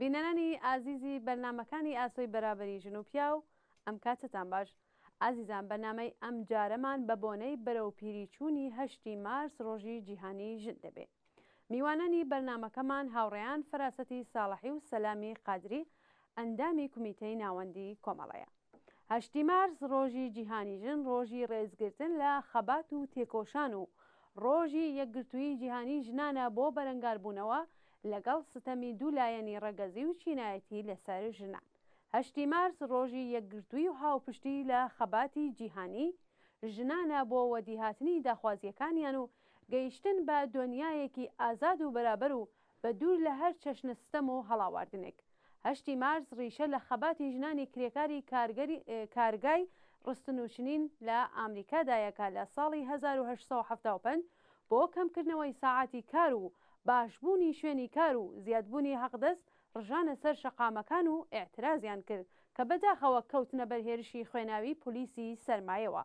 بینەرانی ئازیزی بەرنامەکانی ئاسۆی بەرابەری ژن و پیاو ئەم کاتەتان باش ئازیزان بەرنامەی ئەم جارەمان بە بۆنەی بەرەو پیری چوونی هەشتی مارس ڕۆژی جیهانی ژن دەبێ میوانانی بەرنامەکەمان هاوڕێیان فەراسەتی ساڵەحی و سەلامی قادری ئەندامی کومیتەی ناوەندی کۆمەڵەیە. هەشتی مارس ڕۆژی جیهانی ژن ڕۆژی ڕێزگرتن لە خەبات و تێکۆشان و ڕۆژی یەکگرتوویی جیهانی ژنانە بۆ بەرەنگاربوونەوە لەگەڵ ستەمی دوو لایەنی ڕەگەزی و چینایەتی لەسەر ژنان. هەشتی مارس ڕۆژی یەکگرتووی و هاوپشتی لە خەباتی جیهانی ژنانە بۆ وەدیهاتنی داخوازییەکانیان و گەیشتن بە دۆنیایەکی ئازاد و بەرابەر و بە دوور لە هەر چەشنە ستەم و هەڵاواردنێک. هەشتی مارس ڕیشە لە خەباتی ژنانی کرێکاری کارگەری کارگای ڕستن و چنین لە ئامریکادایە کە لە ساڵی هەزار و هەشت سەد و حەفتا و پێنج بۆ کەمکردنەوەی ساعاتی کار و باشبوونی شوێنی کار و زیادبوونی هەقدەست ڕژانە سەر شەقامەکان و ئیعترازیان کرد کە بەداخەوە کەوتنە بەر هێرشی خوێناوی پولیسی سەرمایەوە.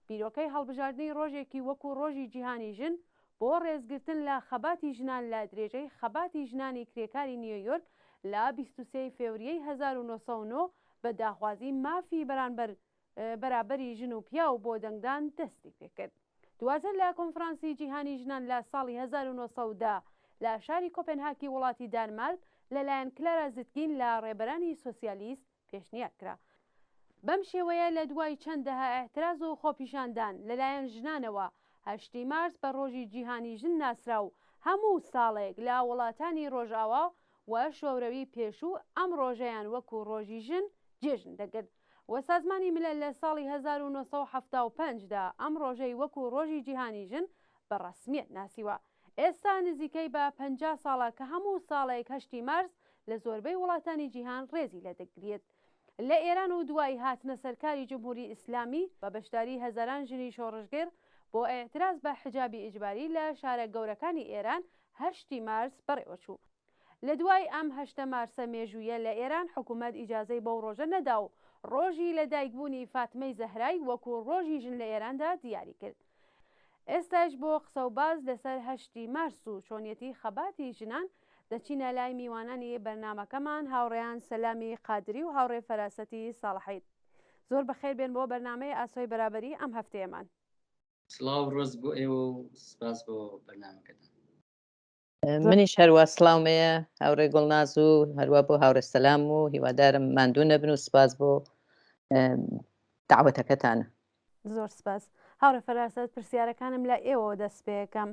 بیرۆکەی هەڵبژاردنی ڕۆژێکی وەکوو ڕۆژی جیهانی ژن، بۆ ڕێزگرتن لە خەباتی ژنان لە درێژەی خەباتی ژنانی کرێکاری نیۆیۆرک لە بیست و سێ ی فێوریەی هەزار و نۆ سەد و نۆ بە داخوازی مافی بەرانبەر بەرابەری ژن و پیاو بۆ دەنگدان دەستی پێکرد دواتر لە کۆنفرانسی جیهانی ژنان لە ساڵی هەزار و نۆ سەد و دە لە شاری کۆپێنهاکی وڵاتی دانمارک لەلایەن کلارا زیتگین لە ڕێبەرانی سۆسیالیست پێشنیار کرا. بەم شێوەیە لە دوای چەند دەهە ئیعتراز و خۆپیشاندان لە لایەن ژنانەوە، هەشتی مارس بە ڕۆژی جیهانی ژن ناسرا و هەموو ساڵێک لە وڵاتانی ڕۆژئاوا و شۆرەوی پێشوو ئەم ڕۆژەیان وەکوو ڕۆژی ژن جێژن دەگرت و سازمانی ملل لە ساڵی هەزار و نۆ سەد و حەفتا و پێنج دا ئەم ڕۆژەی وەکوو ڕۆژی جیهانی ژن بە ڕەسمیەت ناسیوە. ئێستا نزیکەی بە پەنجا ساڵە کە هەموو ساڵێک هەشتی مارس لە زۆربەی وڵاتانی جیهان ڕێزی لێ دەگریێت. لە ئێران و دوای هاتنە سەرکاری جمهوری ئیسلامی بە بەشداری هەزاران ژنی شۆڕشگێڕ بۆ ئیعتراز بە حجابی ئیجباری لە شارە گەورەکانی ئێران هەشتی مارس بەڕێوە چوو. لە دوای ئەم هەشتە مارسە مێژوویە لە ئێران حکوومەت ئیجازەی بەو ڕۆژە نەدا و ڕۆژی لە دایک بوونی فاتمەی زەهرای وەکوو ڕۆژی ژن لە ئێراندا دیاری کرد. ئێستایش بۆ قسە و باس لە سەر هەشتی مارس و چۆنیەتی خەباتی ژنان دەچینە لای میوانانی بەرنامەکەمان هاوڕێیان سەلامی قادری و هاوڕێ فەراسەتی ساڵحید. زۆر بە خێر بێن بۆ بەرنامەی ئاسۆی بەرابەری ئەم هەفتەیەمان. سڵاو و ڕێز بۆ ئێوە و سپاس بۆ بەرنامەکەتان. منیش هەروە سلااومەیە هاورێ گوڵ ناز و هەروە بۆ هاورێ سەسلام و هیوادارم ماندوو نەبن و سپاس بۆ داوەتەکەتانە زۆر سپاس هاورە فەراسەت پرسیارەکانم لە ئێوە دەست پێەکەم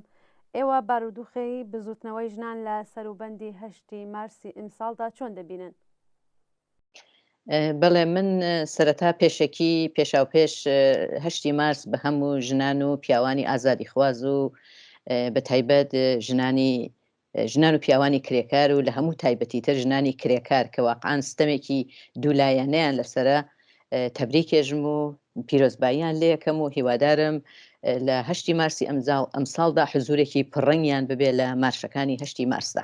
ئێوە بارودوخی بزوتنەوەی ژنان لە سەروبەندی هەشتی مارسی ئیمساڵدا چۆن دەبینن بەڵێ من سەرەتا پێشەکی پێشاو پێش هەشتی مارس بە هەموو ژنان و پیاوانی ئازادی خواز و بە تایبەت ژنانی ژنان و پیاوانی کرێکار و لە هەموو تایبەتی تر ژنانی کرێکار کە واقعان ستەمێکی دوولایەنەیان لەسرە تەبریکێژم و پیرۆزباییان لەکەم و هیوادارم لە هەشتی مارسی ئەمزاڵ ئەمساڵدا حزورێکی پڕنگیان ببێ لە مارشەکانی هەشتی مارسدا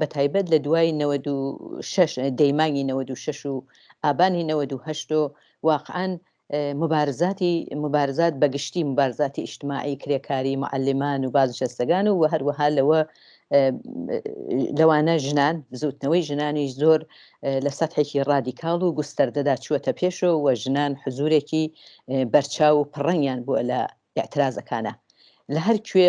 بە تایبەت لە دوای نەوەد و شەش دەی مانگی نەوەد و شەش و ئابانی نەوەد و هەشت و واقعەن مبارزاتی مبارزات بە گشتی مبارزاتی ئیشتماعی کرێکاری معلمان و بازنشەستەکان و هەروەها لەوە لەوانە ژنان بزوتنەوەی ژنانیش زۆر لە سەحێکی ڕادیکاڵ و گوستەردەدا چووەتە پێشەوە و ژنان حزورێکی بەرچاو و پڕەنگیان بووە لە اعترازەکانە لە هەر کوێ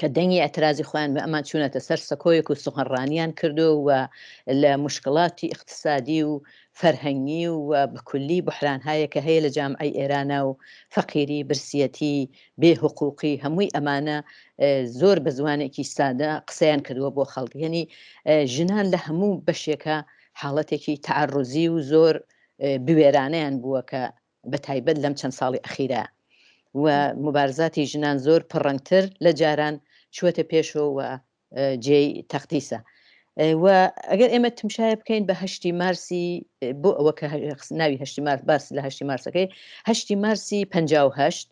کە دەنگی ئێعترازی خۆیان بە ئەمان چوونەتە سەر سەکۆیەک و سوغەنڕانیان کردو و لە موشکڵاتی ئیقتسادی و فەرهەنگی و بە کولی بوحرانهایێ کە هەیە لە جامعەی ئێرانا و فەقیری، برسیەتی، بێ هوقوقی هەمووی ئەمانە زۆر بە زوانێکی سادە قسەیان کردووە بۆ خەڵک. یەنی ژنان لە هەموو بەشێکا حاڵەتێکی تەعەڕوزی و زۆر بوێرانەیان بووە کە بە تایبەت لەم چەند ساڵی ئەخیرە و موبارزاتی ژنان زۆر پڕەنگتر لە جاران چووەتە پێشەوە و جێی تەقدیسە. و ئەگەر ئێمە تمشایە بکەین بە هەشتی مارسی بۆ ئەوە کە ناوی هەشتی مارس باس لە هەشتی مارسەکەی هەشتی مارسی پهشت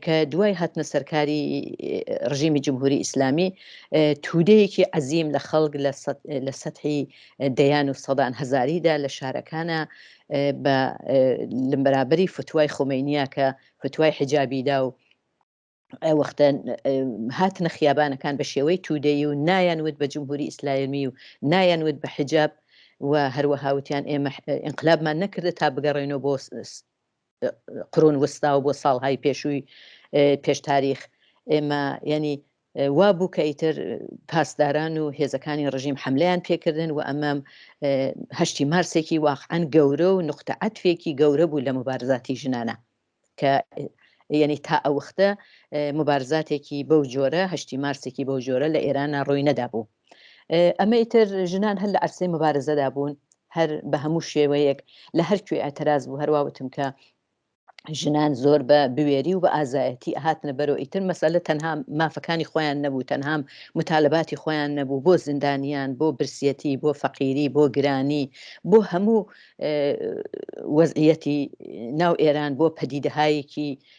کە دوای هاتنە سەرکاری ڕژیمی جمهوری ئیسلامی تودەیەکی عەزیم لە خەڵک لە سەحی دەیان و سەدان هزاریدا لە شارەکانە بە لەمبرابری فتوای خۆمەینە کە فتوای حجابیدا و وەختە هاتنە خیابانەکان بە شێوەی تودەی و نایەن وت بە جمهوری ئیسلایمی و نایەن وت بە حجاب و هەروەهاوتیان ئێمە ئینقلابمان نەکردە تا بگەڕێنەوە بۆ قرون وستا و بۆ ساڵهای پێشووی پێش تاریخ ئێمە ینی وا بوو کە ئیتر پاسداران و هێزەکانی ڕژیم حملیان پێکردن و ئەمەم هەشتی مارسێکی واقعەن گەورە و نقطە عەتفێکی گەورە بوو لە مبارزاتی ژنانە کە یعنی تا ئەوختە مبارزاتێکی بەو جۆرە هەشتی مارسێکی بەو جۆرە لە ئێرانە ڕووی نەدابوو ئەمە ئیتر ژنان هەر لە عەرسەی مبارزەدا بوون هەر بە هەموو شێوەیەک لە هەر کوێ ئەتەراز بوو هەرواوتم کە ژنان زۆر بە بوێری و بە ئازایەتی ئەهاتنە بەرۆ ئیتر مەسەلە تەنها مافەکانی خۆیان نەبوو تەنهام متالباتی خۆیان نەبوو بۆ زیندانیان بۆ برسیەتی بۆ فەقیری بۆ گرانی بۆ هەموو وەزعەتی ناو ئێران بۆ پەدیدەهایەکی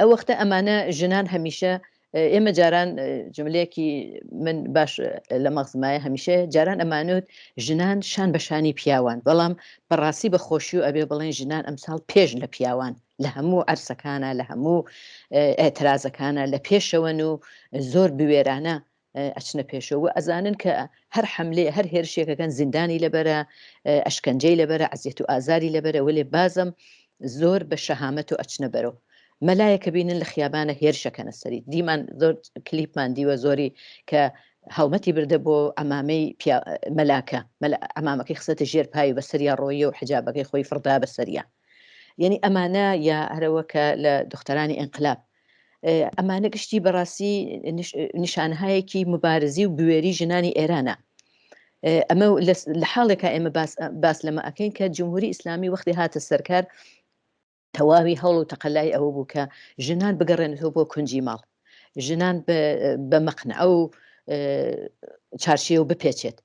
ئەوەختە ئەمانە ژنان هەمیشە ئێمە جاران جملەیەکی من باش لە مەغزمایە هەمیشە جاران ئەمانوت ژنان شان بەشانی پیاوان بەڵام بەڕاستی بە خۆشی و ئەبێ بڵێن ژنان ئەمساڵ پێش لە پیاوان لە هەموو ئەرسەکانە لە هەموو ئەترازەکانە لە پێشەوەن و زۆر بوێرانە ئەچنە پێشەوە و ئەزانن کە هەر حەملەیە هەر هێرشێک ئەکەن زیندانی لەبەرە، ئەشکەنجەی لەبەرە، عەزیەت و ئازاری لەبەرە، وەلێ بازەم زۆر بە شەهامەت و ئەچنە بەرەو مەلایەک ئەبینن لە خیابانە هێرش ئەکەنە سەری، دیمان زۆر کلیپمان دیوە زۆری کە هەڵمەتی بردە بۆ عەمامەی پیا مەلاکە، مەلا عەمامەکەی خستە ژێر پای و بەسەریا ڕۆییە و حیجابەکەی خۆی فڕدا بەسەریا، یەنی ئەمانە یا هەرەوە کە لە دختەرانی ئینقلاب ئەمانە گشتی بەڕاستی نیشانهایەکی مبارزی و بوێری ژنانی ئێرانە ئەمە لە حاڵێکە ئێمە باس لەمە ئەەکەین کە جمهوری ئیسلامی وەختی هاتە سەرکار تەواوی هەوڵ و تەقلای ئەوە بوو کە ژنان بگەڕێنەوە بۆ کونجی ماڵ ژنان بە مەقنە ئەو چارشیەوە بپێچێت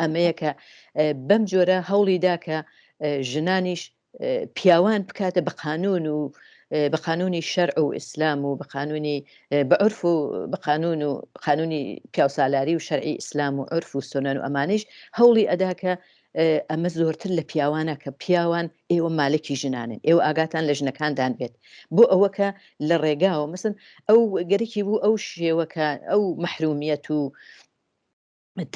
ئەمەیە کە بەم جۆرە هەوڵی دا کە ژنانیش پیاوان بکاتە بە قانون و بە قانونی شەرع و ئیسلام و بە قانونی بە عرف و بە قانون و قانونی پیاوسالاری و شەرعی ئیسلام و عرف و سۆنان و ئەمانیش هەوڵی ئەدا کە ئەمە زۆرتر لە پیاوانە کە پیاوان ئێوە مالکی ژنانن ئێوە ئاگاتان لە ژنەکاندان بێت بۆ ئەوەکە لە ڕێگاوە مەسن ئەو گەرەکی بوو ئەو شێوەکە ئەو محرومیەت و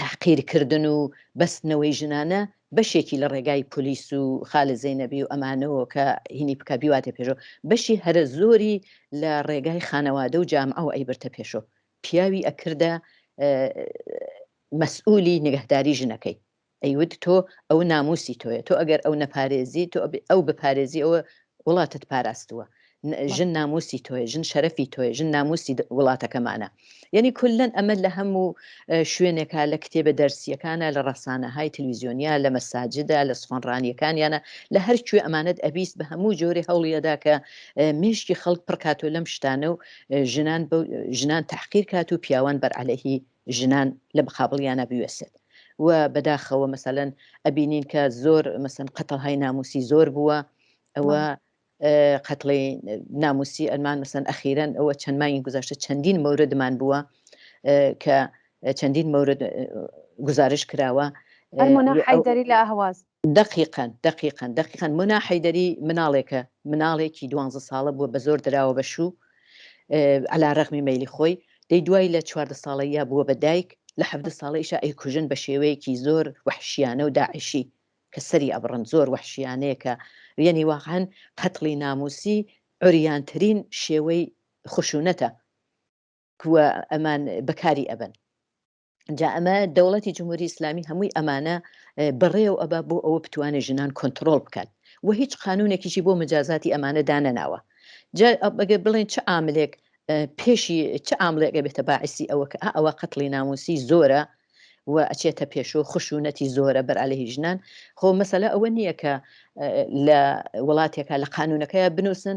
تەحقیرکردن و بەستنەوەی ژنانە بەشێکی لە ڕێگای پۆلیس و خالد زەینەبی و ئەمانەوە کە هینی بکە بیواتە پێشەوە بەشی هەرە زۆری لە ڕێگای خانەوادە و جامعەوە ئەیبرتە پێشۆ پیاوی ئەکردە مەسئولی نگەهداری ژنەکەی ئەیود تۆ ئەو ناموسی تۆیە تۆ ئەگەر ئەو نەپارێزی تۆ ئەو بپارێزی ئەوە وڵاتت پاراستووە ژن ناموسی تۆیە ژن شەرەفی تۆیە ژن ناموسی وڵاتەکەمانە یەنی کولەن ئەمە لە هەموو شوێنێکە لە کتێبە دەرسیەکانە لە ڕەسانەهای تلویزیۆنیا لە مەساجدا لە سخۆنڕانیەکانیانە لە هەر کوێ ئەمانەت ئەبیست بە هەموو جۆرێ هەوڵیەدا کە مێشکی خەڵک پڕکاتۆ لەم شتانە و ژنان ژنان تحقیر کات و پیاوان بەرعەلەهی ژنان لە مقابڵیانا بوێسێت و بەداخەوە مەسەلەن ئەبینین کە زۆر مەسەن قەتڵ های ناموسی زۆر بووە ئەوە قەتڵی ناموسی ئەلمان مەسەن ئەخیرەن ئەوە چەند مانگی گوزارشتە چەندین مەوردمان بووە کە چەندین مەورد گزارش کراوە ئەرمۆنا حیدەری لە ئەهواز دەقیقا دەقیقا دەقیقا مونا حەیدەری مناڵێکە مناڵێکی دوانزە ساڵە بووە بەزۆر دراوە بە شوو عەلا رەغمی مەیلی خۆی دەی دوای لە چواردە ساڵەییا بووە بە دایک لە حەڤدە ساڵەیشا ئەیکوژن بە شێوەیەکی زۆر وەحشیانە و داعشی کە سەری ئەبڕن زۆر وەحشیانەیە کە یەنی واقعەن قەتڵی نامووسی عوریانترین شێوەی خشوونەتە کووە ئەمان بەکاری ئەبەن. جا ئەمە دەوڵەتی جمهوری ئیسلامی هەمووی ئەمانە بەڕێو ئەبا بۆ ئەوە بتوانێت ژنان کۆنتترۆل بکات و هیچ قانونێکیشی بۆ مجازاتی ئەمانە دانەناوە جا ئەگە بڵێن چ ئاملێک پێشی چ ئاملێکە بێتە باعسی ئەوە کە ئەوە قەتڵی ناموسی زۆرە و ئەچێتە پێشۆ خشونەتی زۆرە بەرالەهی ژنان خۆ مەسەلە ئەوە نییە کە لە وڵاتێکە لە قانونەکەی بنووسن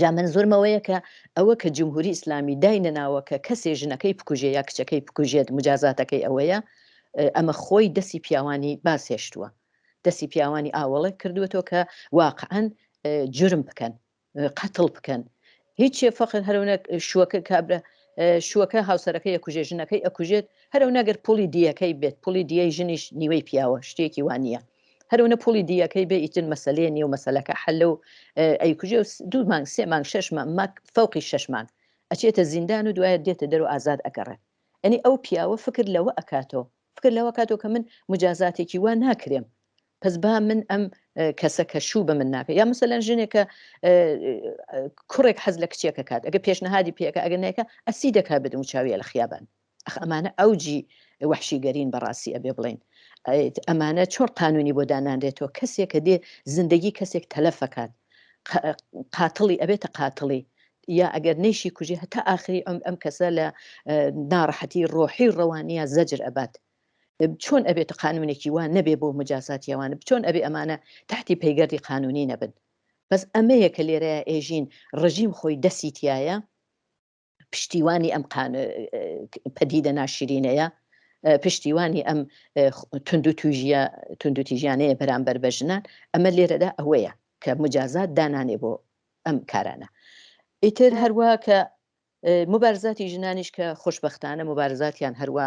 جا مەنزورمەوەیە کە ئەوە کە جمهوری ئیسلامی داینەناوە کە کەسێ ژنەکەی بکوژێ یا کچەکەی بکوژێت مجازاتەکەی ئەوەیە ئەمە خۆی دەسی پیاوانی باسهێشتووە دەسی پیاوانی ئاوەڵێک کردوێتەوە کە واقعەن جرم بکەن قەتڵ بکەن هیچێ فەخر هەرونە شوەکە کابرا شوەکە هاوسەرەکەی ئەکوژێ ژنەکەی ئەکوژێت هەرو نەگەر پولی دیەکەی بێت پولی دیەی ژنیش نیوەی پیاوە شتێکی وانە هەرەونە پوڵی دیەکەی بێ ئیتر مەسەلەیە نیەو مەسەلەکە حەلە و ئەیکوژێ و دوو مانگ سێ مانگ شەش مانگ فەوقی شەش مانگ ئەچێتە زیندان و دوایە دێتە دەرو ئازاد ئەگەڕێ ئەنی ئەو پیاوە فکر لەوە ئەکاتەوە فکر لەوە کاتەوە کە من مجازاتێکی وا ناکرێم پس با من ئەم کەسە کە شوو بە من ناکە یا مثلەن ژنێکە کوڕێک حەز لە کچێکە کات ئەگە پێشنەهادی پێەکە ئەگە نێکە ئەسی دەکات بدم و چاویە لە خیابان ئەخ ئەمانە ئەوجی وەحشی گەرین بەڕاستی ئەبێ بڵێین ئەمانە چۆن قانونی بۆ دانانرێتەوە کەسێک کە دێ زندگی کەسێک تەلەفەکات قاتڵی ئەبێتە قاتڵی یا ئەگەر نەیشی کوژێ هەتا ئاخری ئەم ئەم کەسە لە ناڕەحەتی ڕۆحی و ڕەوانیە زەجر ئەبات چۆن ئەبێت قانونێکی وان نەبێ بۆ مجازات یاوانە بچۆن ئەبێ ئەمانە تحتی پەیگەردی قانونی نەبن بەس ئەمەیە کە لێرە ئێژین ڕژیم خۆی دەسیتایە پشتیوانی ئەم پەدیدە ناشرینەیە پشتیوانی ئەم تونند و توژە تونند و تیژیانەیە بەرامبەر بە ژنان ئەمە لێرەدا ئەوەیە کە مجازات دانانێ بۆ ئەم کارانە ئیتر هەروە کە مبارزاتی ژنانیش کە خوشببختانە مبارزاتیان هەروە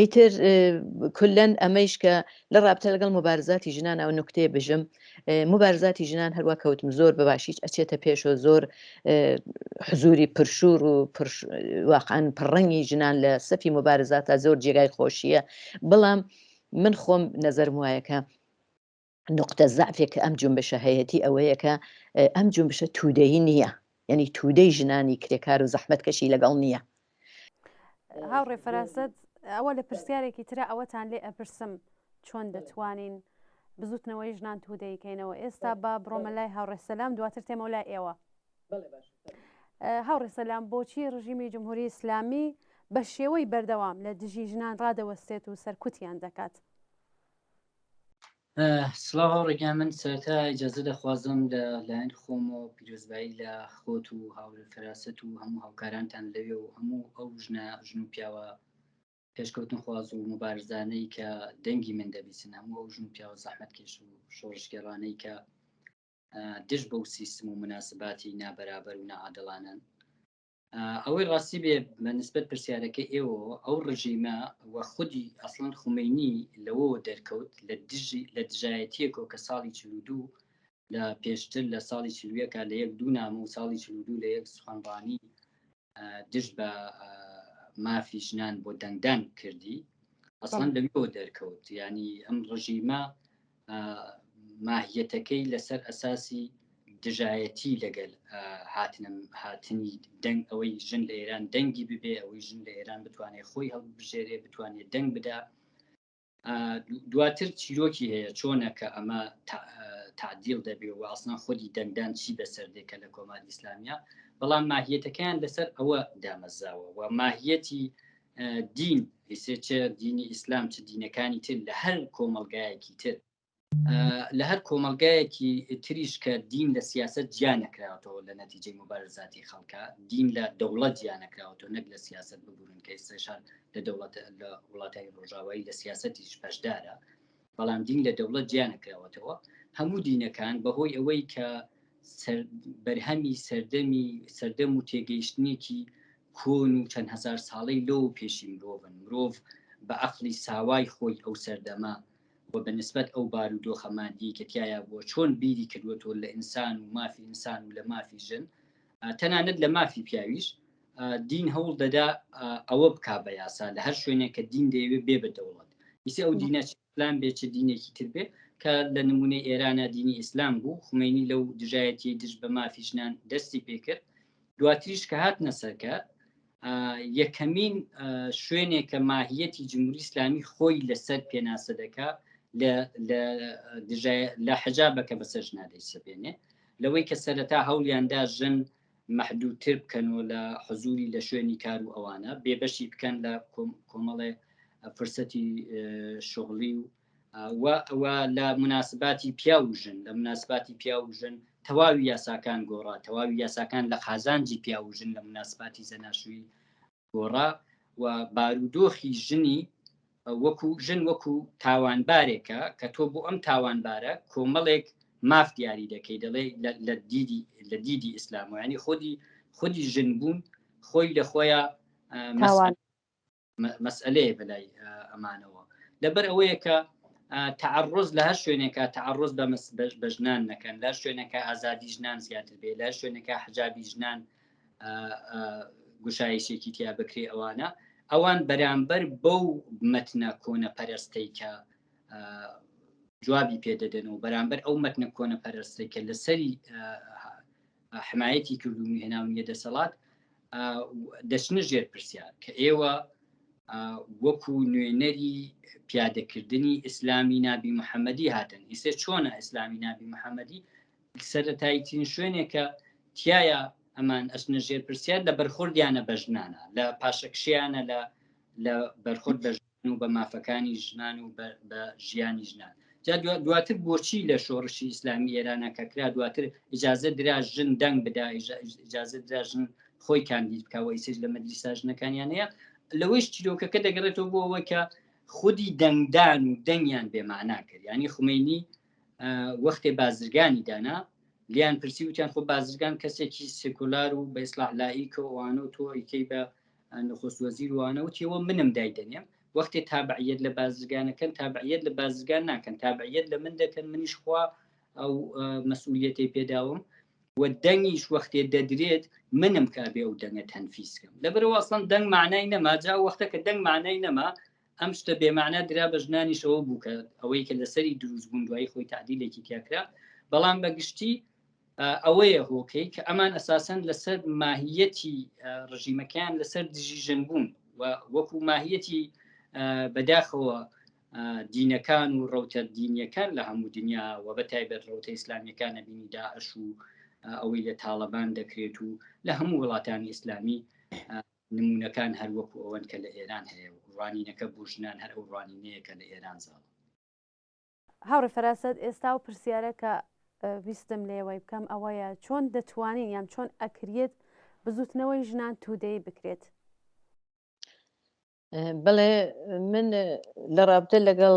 ئیتر کولەن ئەمەیش کە لە ڕابتە لەگەڵ مبارزاتی ژنان ئەو نکتەیە بژم مبارزاتی ژنان هەروە کەوتم زۆر بە باشیش ئەچێتە پێشەوە زۆر حزوری پرشور و واقعان پڕڕەنگی ژنان لە سەفی مبارزاتە زۆر جێگای خۆشیە بەڵام من خۆم نەزەرم وایەکە نوقتە زەعفێک کە ئەم جونبشە هەیەتی ئەوەیە کە ئەم جونبشە تودەیی نییە یعنی تودەی ژنانی کرێکار و زەحمت کەشی لەگەڵ نییە هاوڕێ فەرازت ئەوە لە پرسیارێکی ترە ئەوەتان لێ ئەپرسم چۆن دەتوانین بزوتنەوەی ژنان تودەیکەینەوە ئێستا با بڕۆمە لای هاوڕێسەلام دواتر تێمە لای ئێوە هاوڕێسەلام بۆچی ڕژیمی جمهوری ئیسلامی بە شێوەی بەردەوام لە دژی ژنان ڕادەوەستێت و سەرکوتیان دەکات. سڵاو هاوڕێکان من سەرەتا ئیجازە دەخوازم لە لایەن خۆم و پیرۆزبایی لە خۆت و هاورێ فراست و هەموو هاوکارانتان لەوێ و هەموو ئەو ژنە ژن و پیاوە پێشکەوتن خواز و مبارزانەی کە دەنگی من دەبیسن هەموو ئەو ژن و پیاوە زەحمەت کێش و شۆڕشگەڕانەی کە دژ بەو سیستم و مناسباتی نابەرابەر و نەعادڵانن ئەوەی ڕاستی بێ بە نسبەت پرسیارەکە ئێوە ئەو ڕژیمە و خودی ئەسڵەن خومینی لەوە دەرکەوت لە دژی لە دژایەتیەکۆ کە ساڵی چ دوو لە پێشتر لە ساڵی چلوەکە لە یەک دوو نامە و ساڵی چ دوو لە یەک سخانڕانی دژ بە مافی ژنان بۆ دەنگدان کردی ئەسڵەن لەویەوە دەرکەوت ینی ئەم ڕژیمە ماهیەتەکەی لەسەر ئەساسی دژایەتی لەگەل هاتنم هاتنی دەنگ ئەوەی ژن لە ئێران دەنگی ببێ ئەوەی ژن لە ئێران بتوانێت خۆی هەڵبژێرێ بتوانێت دەنگ بدا دواتر چیرۆکی هەیە چۆنە کە ئەمە تعدیل دەبێ و ئاسنا خودی دەنگدان چی بەسەر دێکە لە کۆماری ئیسلامیا بەڵام ماهیەتەکەیان لەسەر ئەوە دامەزاوە و ماهیەتی دین ئیسێ چ دینی ئیسلام چ دینەکانی تر لە هەر کۆمەلگایەکی تر لە هەر کۆمەلگایەکی تریش کە دین لە سیاست جیا نەکراوەوە لە نەتیجەی مبارزاتی خەڵکە دین لە دەوڵەت جیا نەکراوەوە نەک لە سیاست ببوورن کە ئێستاشان لە دەوڵەت لە وڵاتانی ڕۆژاوایی لە سیاستی پشدارە بەڵام دین لە دەوڵەت جیا نەکراوەتەوە هەموو دینەکان بەهۆی ئەوەی کە بەرهەمی سەردەمی سەردەم و تێگەیشتنێکی کۆن و چەند هزار ساڵەی لۆ و پێشی مرۆڤن مرۆڤ بە ئەقلی ساوای خۆی ئەو سەردەمە و بە نسبەت ئەو بار و دۆخەماندی کە تایە بووە چۆن بیری کردوەوە لە ئینسان و مافی ئینسان و لە مافی ژن تەنانەت لە مافی پیاویش دین هەوڵ دەدا ئەوە بک بە یاسا لە هەر شوێنێک کە دین دەیەوێت بێ بە دەوڵەت ئیسی ئەو دینە پلان بێ چ دینێکی تر بێ کە لە نمونەی ئێرانە دینی ئیسلام بوو خومینی لەو دژایەتی دژ بە مافی ژنان دەستی پێکرد دواتریش کە هات نەسەرکە یەکەمین شوێنێک کە ماهیەتی جمهوری ئسلامی خۆی لەسەر پێناسە دەکا لە حەجا بەکە بەسەر ژنادەی سەبێنێ لەوەی کە سەرەتا هەولیاندا ژن مەحدوودتر بکەن و لە حزووری لە شوێنی کار و ئەوانە بێبەشی بکەن لە کۆمەڵێ فرسەتی شغلی و و ئەوە لە مناسباتی پیا و ژن لە مناسباتی پیا و ژن تەواوی یاساکان گۆڕا تەواوی یاساکان لە قازانجی پیا و ژن لە مناسباتی زەناشوی گۆڕا و بارودۆخی ژنی وەکو ژن وەکو تاوانبارێکە کە تۆ بۆ ئەم تاوانبارە کۆمەڵێک ماف دیاری دەکەی دەڵێ لە دیدی لە دیدی ئیسلام و ینی خودی خودی ژن بوون خۆی لە خۆیان مەسئلەیە بەلای ئەمانەوە لەبەر ئەوەیە کە تعرز لە هەر شوێنێکە تعرز بە بە ژنان نەکەن لە شوێنەکە ئازادی ژنان زیاتر بێ لە شوێنەکە حجابی ژنان گوشایشێکی تیا بکرێ ئەوانە ئەوان بەرامبەر بەو مەتنە کۆنە پەرستەی کە جوابی پێدەدەن و بەرامبەر ئەو مەتنە کۆنە پەرستەی کە لەسەری حمایەتی کردو هێناونیە دەسەڵات دەچنە ژێر پرسیار کە ئێوە وەکو نوێنەری پیادەکردنی ئیسلامی نابی محەممەدی هاتن ئیسێ چۆنە ئیسلامی نابی محەممەدی سەرەتاییترین شوێنێک کە تایە ئەمان ئەچنە ژێر پرسیار لە بەرخۆردیانە بە ژنانە لە پاشەکشیانە لە لە بەرخۆرد بە ژن و بە مافەکانی ژنان و بە ژیانی ژنان جا دواتر بۆچی لە شۆڕشی ئیسلامی ئێرانە کە کرا دواتر ئجازە درا ژن دەنگ بدا ئجازە درا ژن خۆی کاندید بکەوە ئیسش لە مەدرسا ژنەکانیانەیە لەوەیش چیرۆکەکە دەگەڕێتەوە بۆ ئەوەی کە خودی دەنگدان و دەنگیان بێمانان کرد ینی خومینی وەختێ بازرگانی دانا لیان پرسی وتیان خۆ بازرگان کەسێکی سکولار و بە ئیسلاح لایک و ئەوانە و تۆیکەی بە نخست وەزیر وانە وتیەوە منم دایدەنێم وەختێ تابعیت لە بازرگانەکەن تابعیت لە بازرگان ناکەن تابعیت لە من دەکەن منیش خوا ئەو مەسئولیەتی پێداوم و دەنگیش وەختێ دەدرێت منم کابێ و دەنگە تەنفیسکەم لەبەرەوە ئەسڵەن دەنگ مانای نەما جا وەختە کە دەنگ مانای نەما ئەم شتە بێ معنە درا بە ژنانیشەوە بوو کە ئەوەی کە لەسەری دروست بوون دوایی خۆی تعدیلێکی تیاکرا بەڵام بە گشتی ئەوەیە هۆکەی کە ئەمان ئەساسەن لەسەر ماهیەتی ڕژیمەکەیان لەسەر دژی ژن بوون و وەکو ماهیەتی بەداخەوە دینەکان و ڕوتە دینیەکان لە هەموو دنیا و بە تایبەت ڕوتە ئیسلامیەکانە بینی داعش و ئەوەی لە تاالبان دەکرێت و لە هەموو وڵاتانی ئیسلامی نمونەکان هەر وەکو ئەوەن کە لە ئێران هەیە و ڕوانینەکە بۆ ژنان هەر ئەو ڕوانینەیە کە لە ئێران زاڵە. هاوڕێ فەراسەت ئێستا ئەو پرسیارە کە ویستم لێوەی بکەم ئەوەیە چۆن دەتوانین یان چۆن ئەکریت بزوتنەوەی ژنان تودەی بکرێت؟ بڵێ من لە ڕابتە لەگەڵ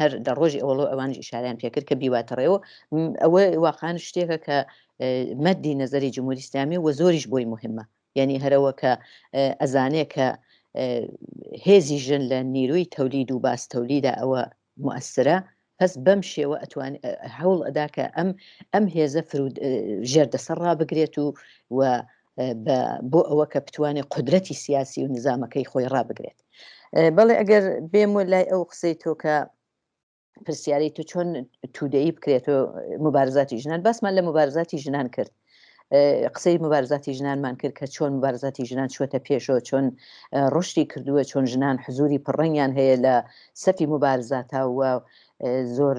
هەر دە ڕۆژی ئەوەڵۆ ئەوانش ئشاریان پێکرد کە بیواتەڕێەوە ئەوە واقعان شتێکە کە مەدی نەزەری جمهوری ئسلامی وە زۆریش بۆی مهمە یعنی هەرەوە کە ئەزانێ کە هێزی ژن لە نیروی تەولید و باس تەولیدا ئەوە موەسرە هەس بەم شێوە ئەتوان هەوڵ ئەدا کە ئەم ئەم هێزە ژێر دەسەر ڕابگرێت و و بە بۆ ئەوە کە بتوانێت قدرەتی سیاسی و نزامەکەی خۆی ڕابگرێت بەڵێ ئەگەر بێم و لای ئەو قسەی تۆکە پرسیارەی تو چۆن تودەی بکرێت و مبارزاتی ژنان باسمان لە مبارزاتی ژنان کرد قسەی مبارزاتی ژنانمان کرد کە چۆن مبارزاتی ژنان چوەتە پێشەوە چۆن ڕشتی کردووە چۆن ژنان حزوری پڕنگیان هەیە لە سەفی مبارزاتاوە زۆر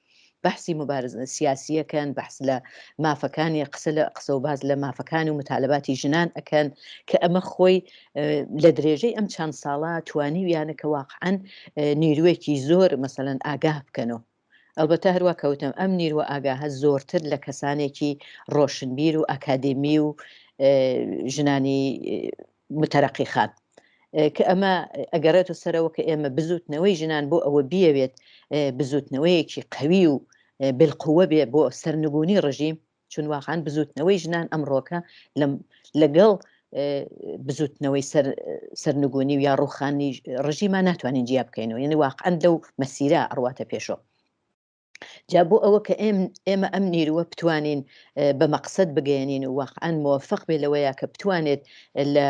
بەحسی موبارزە سیاسیە کەن بەحس لە مافەکانی قسە لە قسە و باز لە مافەکانی و متالباتی ژنان ئەکەن کە ئەمە خۆی لە درێژەی ئەم چەند ساڵە توانی ویانە کە واقعەن نیروێکی زۆر مەسەەن ئاگاه بکەنەوە ئەلبەتە هەروە کەوتم ئەم نیروە ئاگاهە زۆرتر لە کەسانێکی ڕۆشنبیر و ئاکادمی و ژنانی متەرەقی خان، کە ئەمە ئەگەڕێتە سەرەوە کە ئێمە بزووتنەوەی ژنان بۆ ئەوە بیەوێت بزووتنەوەیەکی قوی و بلقوە بێ بۆ سەرنگونی ڕژیم چون واقعان بزووتنەوەی ژنان ئەمڕۆکە لەگەڵ بزوتنەوەی سەر سەرنگونی و یا ڕوخانی ڕژیمان ناتوانین جیا بکەینەوە یعنی واقعەن لەو مەسیرە ئەڕواتە پێشەوە جا بۆ ئەوە کە ئێمە ئەم نیروە بتوانین بە مەقصد بگەێنین و واقعان موفق بێ لەوەیە کە بتوانێت لە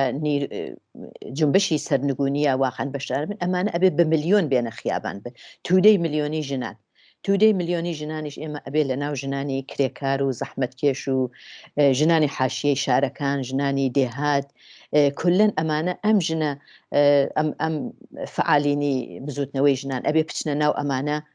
جنبشی سەرنگونیە واقعان بەشدار بن ئەمانە ئەبێ بە میلیۆن بێنە خیابان بن تودەی میلیۆنی ژنان تودەی میلیۆنی ژنانیش ئێمە ئەبێ لە ناو ژنانی کرێکار و زەحمەتکێش و ژنانی حاشیەی شارەکان ژنانی دێهات کلەن ئەمانە ئەم ژنە ئەم فعالینی بزوتنەوەی ژنان ئەبێ بچنە ناو ئەمانە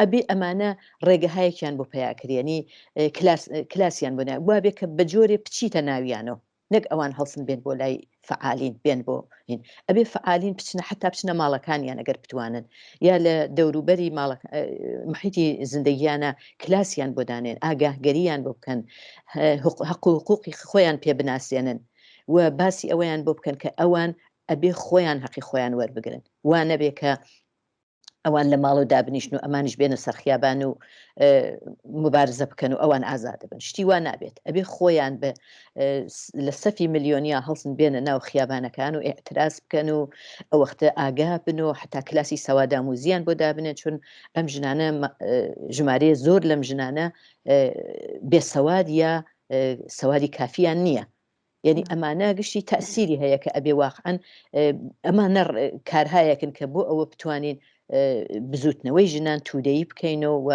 ئەبێ ئەمانە ڕێگەهایەکیان بۆ پەیاکرێ یەنی کلاس کلاسیان بۆ نایە وابێ کە بە جۆرێ بچیتە ناویانەوە نەک ئەوان هەڵسن بێن بۆ لای فعالین بێن بۆ هین ئەبێ فعالین بچنە حتا بچنە ماڵەکانیان ئەگەر بتوانن یا لە دەوروبەری ماڵە ئە محیتی زندگیانە کلاسیان بۆ دانێن ئاگاهگەریان بۆ بکەن هە هەق هەق و حقوقی خۆیان پێ بناسێنن و باسی ئەوەیان بۆ بکەن کە ئەوان ئەبێ خۆیان هەقی خۆیان وەربگرن وا نەبێ کە ئەوان لە ماڵەوە دابنیشن و ئەمانش بێنە سەرخیابان و مبارزە بکەن و ئەوان ئازادەبن شتی وا نابێت ئەبێ خۆیان بە لە سەفی ملیۆنیا هەڵسن بێنە ناو خیابانەکان و ئاعتراس بکەن و ئەوەختە ئاگا بن و حتا کلاسی سەوادام و زیان بۆ دابنێن چون ئەم ژنانە ژمارە زۆر لەم ژنانە بێسەواد یا سەواری کافیان نییە یعنی ئەمانە گشتی تاسیری هەیە کە ئەبێ واقعەن ئەمان نەڕ کارهایەکن کە بۆ ئەوە بتوانین بزوتنەوەی ژنان تودەی بکەینەوە و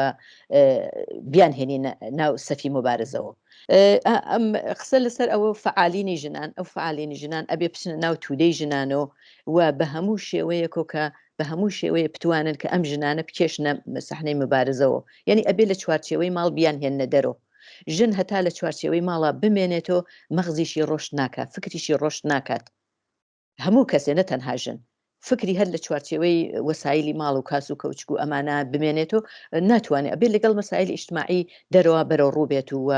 بیان هێنین ناو سەفی مبارزەوە ئەم قسە لەسەر ئەوە فعالینی ژنان ئەو فعالینی ژنان ئەبێ بچنە ناو تودەی ژنانەوە و بە هەموو شێوەیەکۆ کە بە هەموو شێوەیە بتوانن کە ئەم ژنانە بکێشنە سەحنەی مبارزەوە یعنی ئەبێ لە چوارچێوەی ماڵ بیان هێنە دەرەوە ژن هەتا لە چوارچێوەی ماڵا بمێنێتۆ مەغزیشی ڕۆشت ناکا فکریشی ڕۆشت ناکات هەموو کەسێ نە تەنها ژن فکری هەر لە چوارچێوەی وەسایلی ماڵ و کاس و کەوچک و ئەمانە بمێنێت و ناتوانێت ئەبێت لەگەڵ مەسایل ئیشتماعی دەرەوە بەرەو ڕووبێت و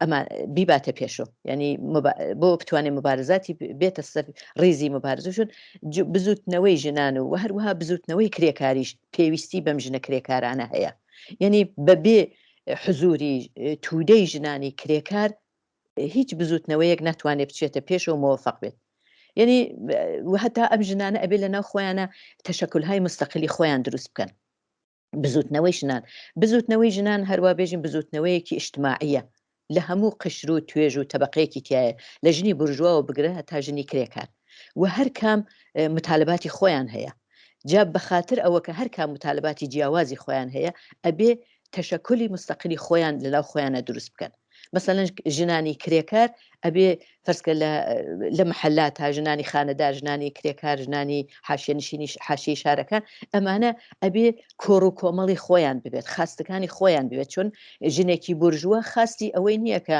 ئەمە بیباتە پێشۆ ینی بۆ بتوانێت مبارزاتی بێتە سەر ڕیزی مبارزشون بزوتنەوەی ژنان و هەروەها بزوتنەوەی کرێکاریش پێویستی بەم ژنە کرێکارانە هەیە یعنی بەبێ حزووری توودەی ژنانی کرێکار هیچ بزوتنەوەیەک ناتوانێت بچێتە پێشەوە مۆفق بێت یعنی هەتا ئەم ژنانە ئەبێ لە ناو خۆیانە تەشەکلهای مستەقلی خۆیان دروست بکەن بزوتنەوەی ژنان بزوتنەوەی ژنان هەروە بێژین بزوتنەوەیەکی ئیشتماعیە لە هەموو قشر و توێژ و تەبقەیەکی تایە لە ژنی برژواوە بگرە هەتا ژنی کرێکار و هەر کام متالباتی خۆیان هەیە جا بەخاتر ئەوە کە هەر کام متالباتی جیاوازی خۆیان هەیە ئەبێ تەشەکولی مستقلی خۆیان لە ناو خۆیانا دروست بکەن مەسەلەن ژنانی کرێکار ئەبێ فەرزکە لە لە محللا تا ژنانی خانەدار ژنانی کرێکار ژنانی حاشیە نشینی حاشی شارەکان ئەمانە ئەبێ کۆڕ و کۆمەڵی خۆیان ببێت خاستەکانی خۆیان بێت چون ژنێکی بورژوە خاستی ئەوەی نییە کە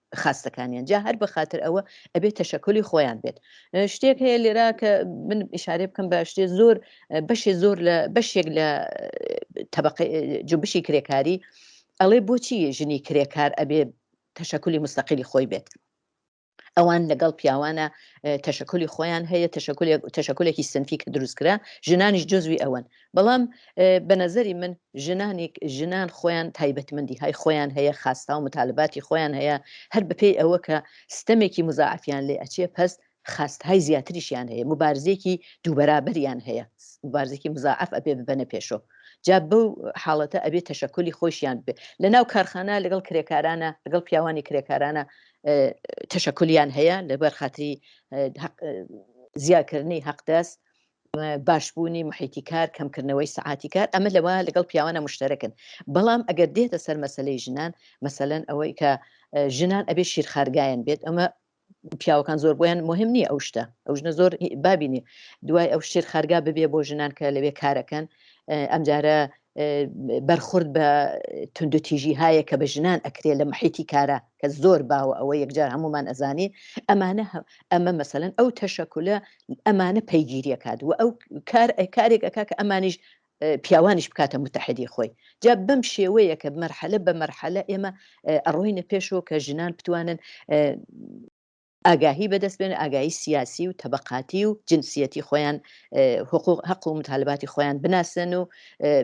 خاستەکانیان جا هەر بەخاتر ئەوە ئەبێت تەشەکلی خۆیان بێت شتێک هەیە لێرا کە من ئشارێ بکەم بە شتێ زۆر بەشێ زۆر لە بەشێک لە تەبق جوبشی کرێکاری ئەڵێ بۆچی ژنی کرێکار ئەبێ تەشەکلی مستەقلی خۆی بێت ئەوان لەگەڵ پیاوانە تەشەکلی خۆیان هەیە تەشەکلێکی سنفی کە دروستکرا ژنانیش جزوی ئەوەن بەڵام بە نەزەری من ژنانی ژنان خۆیان تایبەتمەندی های خۆیان هەیە خاستاو متالباتی خۆیان هەیە هەر بەپێی ئەوە کە ستەمێکی مزاعەفیان لێ ئەچێ پەس خاست های زیاتریشیان هەیە مبارزێکی دووبەرابەریان هەیە مبارزێکی مزاعەف ئەبێ ببەنە پێشۆ جا بەو حاڵەتە ئەبێ تەشەکلی خۆشیان بێ لە ناو کارخانە لەگەڵ کرێکارانە لەگەڵ پیاوانی کرێکارانە تەشەکلیان هەیە لەبەر خاتری زیاکردنی هەقدەست باشبوونی محیتی کار، کەمکردنەوەی سەعاتی کار، ئەمە لەوە لەگەڵ پیاوانە مشتەرەکن، بەڵام ئەگەر دێتە سەر مەسەلەی ژنان، مەسەلەن ئەوەی کە ژنان ئەبێ شیرخارگایان بێت، ئەمە پیاوەکان زۆر بۆیان مهم نییە ئەو شتە ئەو ژنە زۆر بابینێ دوای ئەو شیر خارگا ببێ بۆ ژنان کە لەوێ کارەکەن ئەمجارە بەرخورد بە توندوتیژی هاە کە بە ژنان ئەکرێ لە محیتی کارا کە زۆر باوە ئەوە یەکجار هەمومان ئەزانین ئەمانە ئەمە مەسەن ئەو تەشەکولە ئەمانە پەیگیریەکات و ئەو کار کارێک ئەک کە ئەمانیش پیاوانیش بکاتە متحدی خۆی جا بەم شێوەیە کە مەرحەلە بە مەرحەلە ئێمە ئەڕۆینە پێشەوە کە ژنان بتوانن ئاگاهی بەدەست بێنن ئاگاهی سیاسی و تەبەقاتی و جنسیەتی خۆیان حقوق هەق و متالباتی خۆیان بناسن و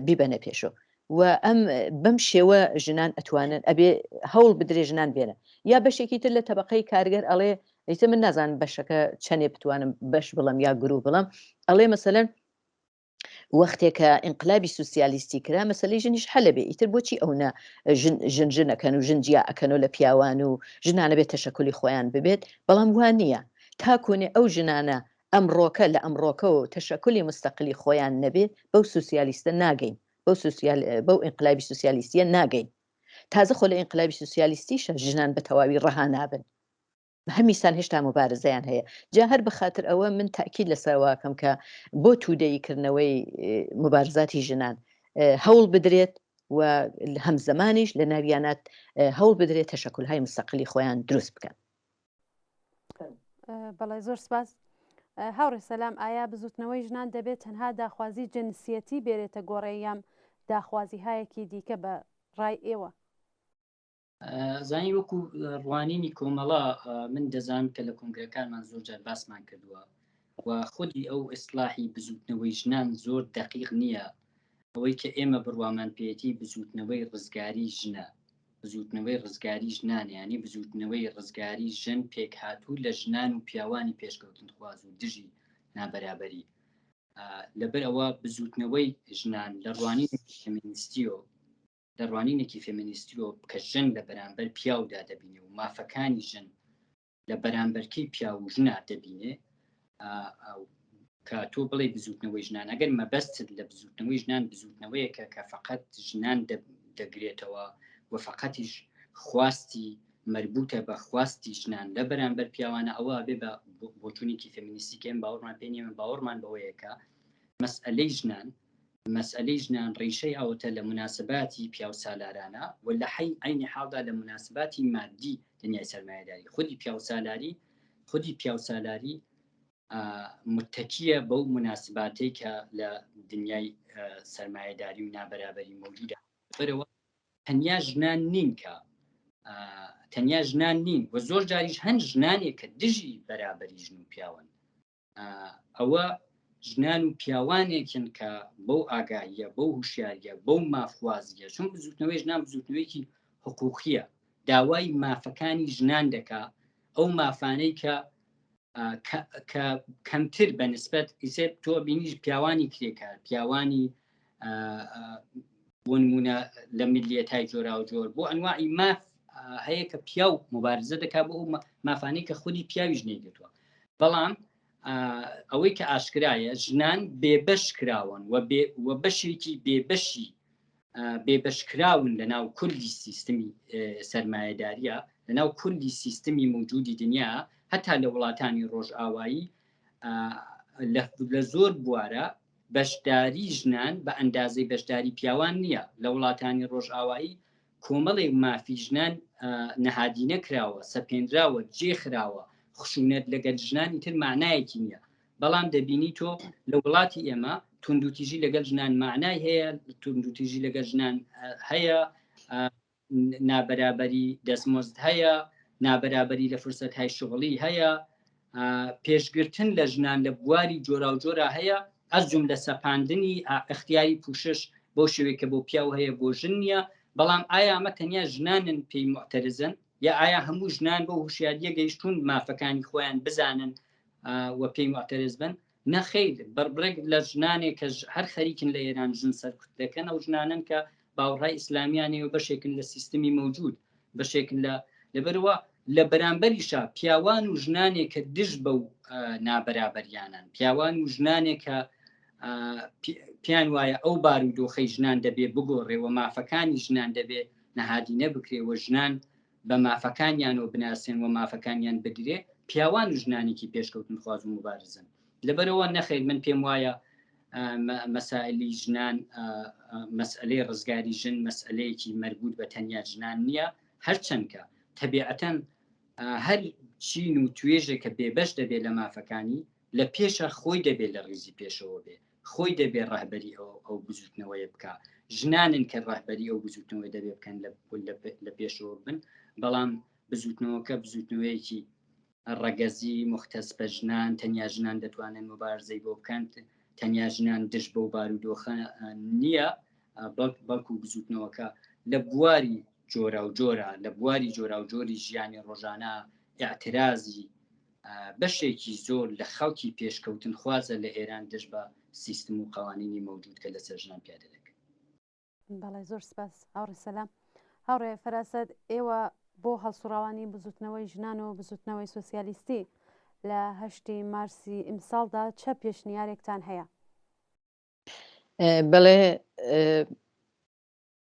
بیبەنە پێشۆ و ئەم بەم شێوە ژنان ئەتوانن ئەبێ هەوڵ بدرێ ژنان بێنە یا بەشێکی تر لە تەبقەی کارگەر ئەڵێ ئیتە من نازان بەشەکە چەندێ بتوانم بەش بڵم یا گرو بڵم ئەڵێ مەسەەن وەختێ کە ئینقلابی سوسیالیستی کرا مەسلەی ژنیش حەلە بێ ئیتر بۆچی ئەو نە ژن ژنەکەن و ژن جیا ئەکەنەوە لە پیاوان و ژنانە بێت تەشەکولی خۆیان ببێت بەڵام وان نییە تاکۆنێ ئەو ژنانە ئەمڕۆکە لە ئەمڕۆکەەوە تەشەکولی مستەقلی خۆیان نەبێ بەو سوسیالیستە ناگەین بەو سوسیال بەو ئینقلابی سوسیالیستیە ناگەین تازە خۆ لە ئینقلابی سوسیالیستیشە ژنان بە تەواوی ڕەها نابن هەمیسان هێشتا موبارزەیان هەیە جا هەر بەخاتر ئەوە من تاکیل لەسەرواکەم کە بۆ توودەی کردنەوەی مبارزاتی ژنان هەوڵ بدرێت و هەم زمانیش لە ناویانات هەوڵ بدرێت تەشەکل های مستەقلی خۆیان دروست بکەن بەڵێ زۆر سپاس هاوڕێ سەسلام ئایا بزوتنەوەی ژنان دەبێت تەنها داخوازی جنسیەتی بێرێتە گۆڕێ یام داخوازی هایەکی دیکە بە ڕای ئێوە زانی وەکو ڕوانینی کۆمەڵە من دەزان کە لە کنگرەکانمان زۆر جار باسمان کردووە و خودی ئەو ئیسلاحی بزوتنەوەی ژنان زۆر دقیق نییە ئەوەی کە ئێمە بڕوامان پێێتی بزوتنەوەی ڕزگاری ژنە بزوتنەوەی ڕزگاری ژنانیانی بزوتنەوەی ڕزگاری ژن پێک هاتوو لە ژنان و پیاوانی پێشکەوتن خواز و دژی نابەرابەری لەبەر ئەوە بزوتنەوەی ژنان لە ڕوانی فمینیستیۆ لە ڕوانینێکی فێمینیستیۆ کە ژن لە بەرامبەر پیاودا دەبینێ و مافەکانی ژن لە بەرامبەرکەی پیاو و ژنا دەبینێ کە تۆ بڵێ بزوتنەوەی ژنان ئەگەر مەبەستت لە بزوتنەوەی ژنان بزوتنەوەیەکە کە فقط ژنان دەگرێتەوە و فقەتیش خواستی مربوتە بە خواستی ژنان لە بەرامبەر پیاوانە ئەوە بێ بە بۆچوونێکی فەمینیستی کەم باوەڕمان پێێن باوەڕمان بەوەیەکە مەسئلەی ژنان مەسئەلەی ژنان ڕیشەی ئەوەتە لە موناسباتی پیاوسالارانە و لە عەینی حاڵدا لە موناسباتی مادی دنیای سەرمایەداری خودی پیاوسالاری خودی پیاوسالاری متەکیە بەو موناسباتەی کە لە دنیای سەرمایەداری و نابەرابەری مەوجودە بەرەوە تەنیا ژنان نین کە تەنیا ژنان نین و زۆر جاریش هەن ژنانێک کە دژی بەرابەری ژن و پیاون ئەوە ژنان و پیاوانێکن کە بەو ئاگاییە بەو هوشیاریە بەو مافوازیە چون بزوتنەوەی ژنان بزوتنەوەیکی حقوقیە داوای مافەکانی ژنان دەکا ئەو مافانەی کە کە کەمتر بە نسبەت ئیسێ تۆ بینیش پیاوانی کرێکار پیاوانی بۆ نمونە لە ملیەتای جۆرا و جۆر بۆ ئەنواعی ماف هەیە کە پیا و مبارزە دەکات بۆ مافانەی کە خودی پیاویش نەیگرتووە بەڵام ئەوەی کە ئاشکرایە ژنان بێبەش کراون و بەشێکی بێبەشی بێبەشکراون لە ناو کولی سیستمی سرمایهداریە لە ناو کولی سیستمی موجودی دنیا هەتا لە وڵاتانی ڕۆژئاوایی لە زۆر بوارە بەشداری ژنان بە ئەندازەی بەشداری پیاوان نییە، لە وڵاتانی ڕۆژئاوایی کۆمەڵێک مافی ژنان نەهادینە کراوە، سەپێنراوە، جێ خراوە، خشونەت لەگەل ژنان ئیتر مەعنایەکی نییە، بەڵام دەبینی تۆ لە وڵاتی ئێمە توندوتیژی لەگەل ژنان مەعنای هەیە، توندوتیژی لەگەل ژنان هەیە، نابەرابەری دەستمۆزد هەیە، نابەرابەری لە فرسەتهای شغڵی هەیە، پێشگرتن لە ژنان لە بواری جۆراوجۆرا هەیە، ئەز جوملە سەپاندنی ئەختیاری پوشش بەو شێوەی کە بۆ پیاو هەیە بۆ ژن نییە، بەڵام ئایا ئەمە تەنیا ژنانن پێی موعتەرزن؟ یا ئایا هەموو ژنان بەو هوشیارییە گەیشتوون مافەکانی خۆیان بزانن و پێی موعتەرز بن؟ نەخیر بڕێک لە ژنانێک کە هەر خەریکن لە ئێران ژن سەرکوت دەکەن ئەو ژنانەن کە باوەڕای ئیسلامیانەیە و بەشێکن لە سیستمی مەوجود بەشێکن لە لەبەرەوە لە بەرامبەریشا پیاوان و ژنانێک کە دژ بە و نابەرابەریانن پیاوان و ژنانێک کە پیان وایە ئەو بار و دۆخەی ژنان دەبێ بگۆڕێەوە مافەکانی ژنان دەبێ نەهادینە بکرێەوە ژنان بە مافەکانیانەوە بناسێن و مافەکانیان بدرێ، پیاوان و ژنانێکی پێشکەوتنخواز و موبارزن. لەبەرئەوە نەخیر من پێم وایە مەسائلی ژنان مەسئلەی ڕزگاری ژن مەسئلەیەکی مەربوط بە تەنیا ژنان نییە، هەرچەندکە تەبیعەتەن هەر چین و توێژێکە بێبەش دەبێت لە مافەکانی لە پێشە خۆی دەبێت لە ڕیزی پێشەوە بێ خۆی دەبێت ڕهبەری ئەو ئەو بزوتنەوەی بکە ژنانن کە ڕهبەری ئەو بزوتنەوەی دەبێ بکەن لە پێشەوە بن بەڵام بزوتنەوەکە بزوتنەوەیەکی ڕەگەزی مختەس بە ژنان تەنیا ژنان دەتوانن مبارزەی بۆ بکەن تەنیا ژنان دژ بەو بارودۆخە نییە بەڵکو بزوتنەوەکە لە بواری جۆرا و جۆرە لە بواری جۆرا و جۆری ژیانی ڕۆژانە اعترازی بەشێکی زۆر لە خەڵکی پێشکەوتنخوازە لە ئێران دژ بە سیستم و قەوانینی مەوجود کە لەسەر ژنان پیادە دەکرێت. بەڵێ زۆر سپاس هاوڕێ سەلام. هاوڕێ فەراسەت ئێوە بۆ هەڵسوڕاوانی بزوتنەوەی ژنان و بزوتنەوەی سۆسیالیستی لە هەشتی مارسی ئیمساڵدا چە پێشنیارێکتان هەیە؟ بەڵێ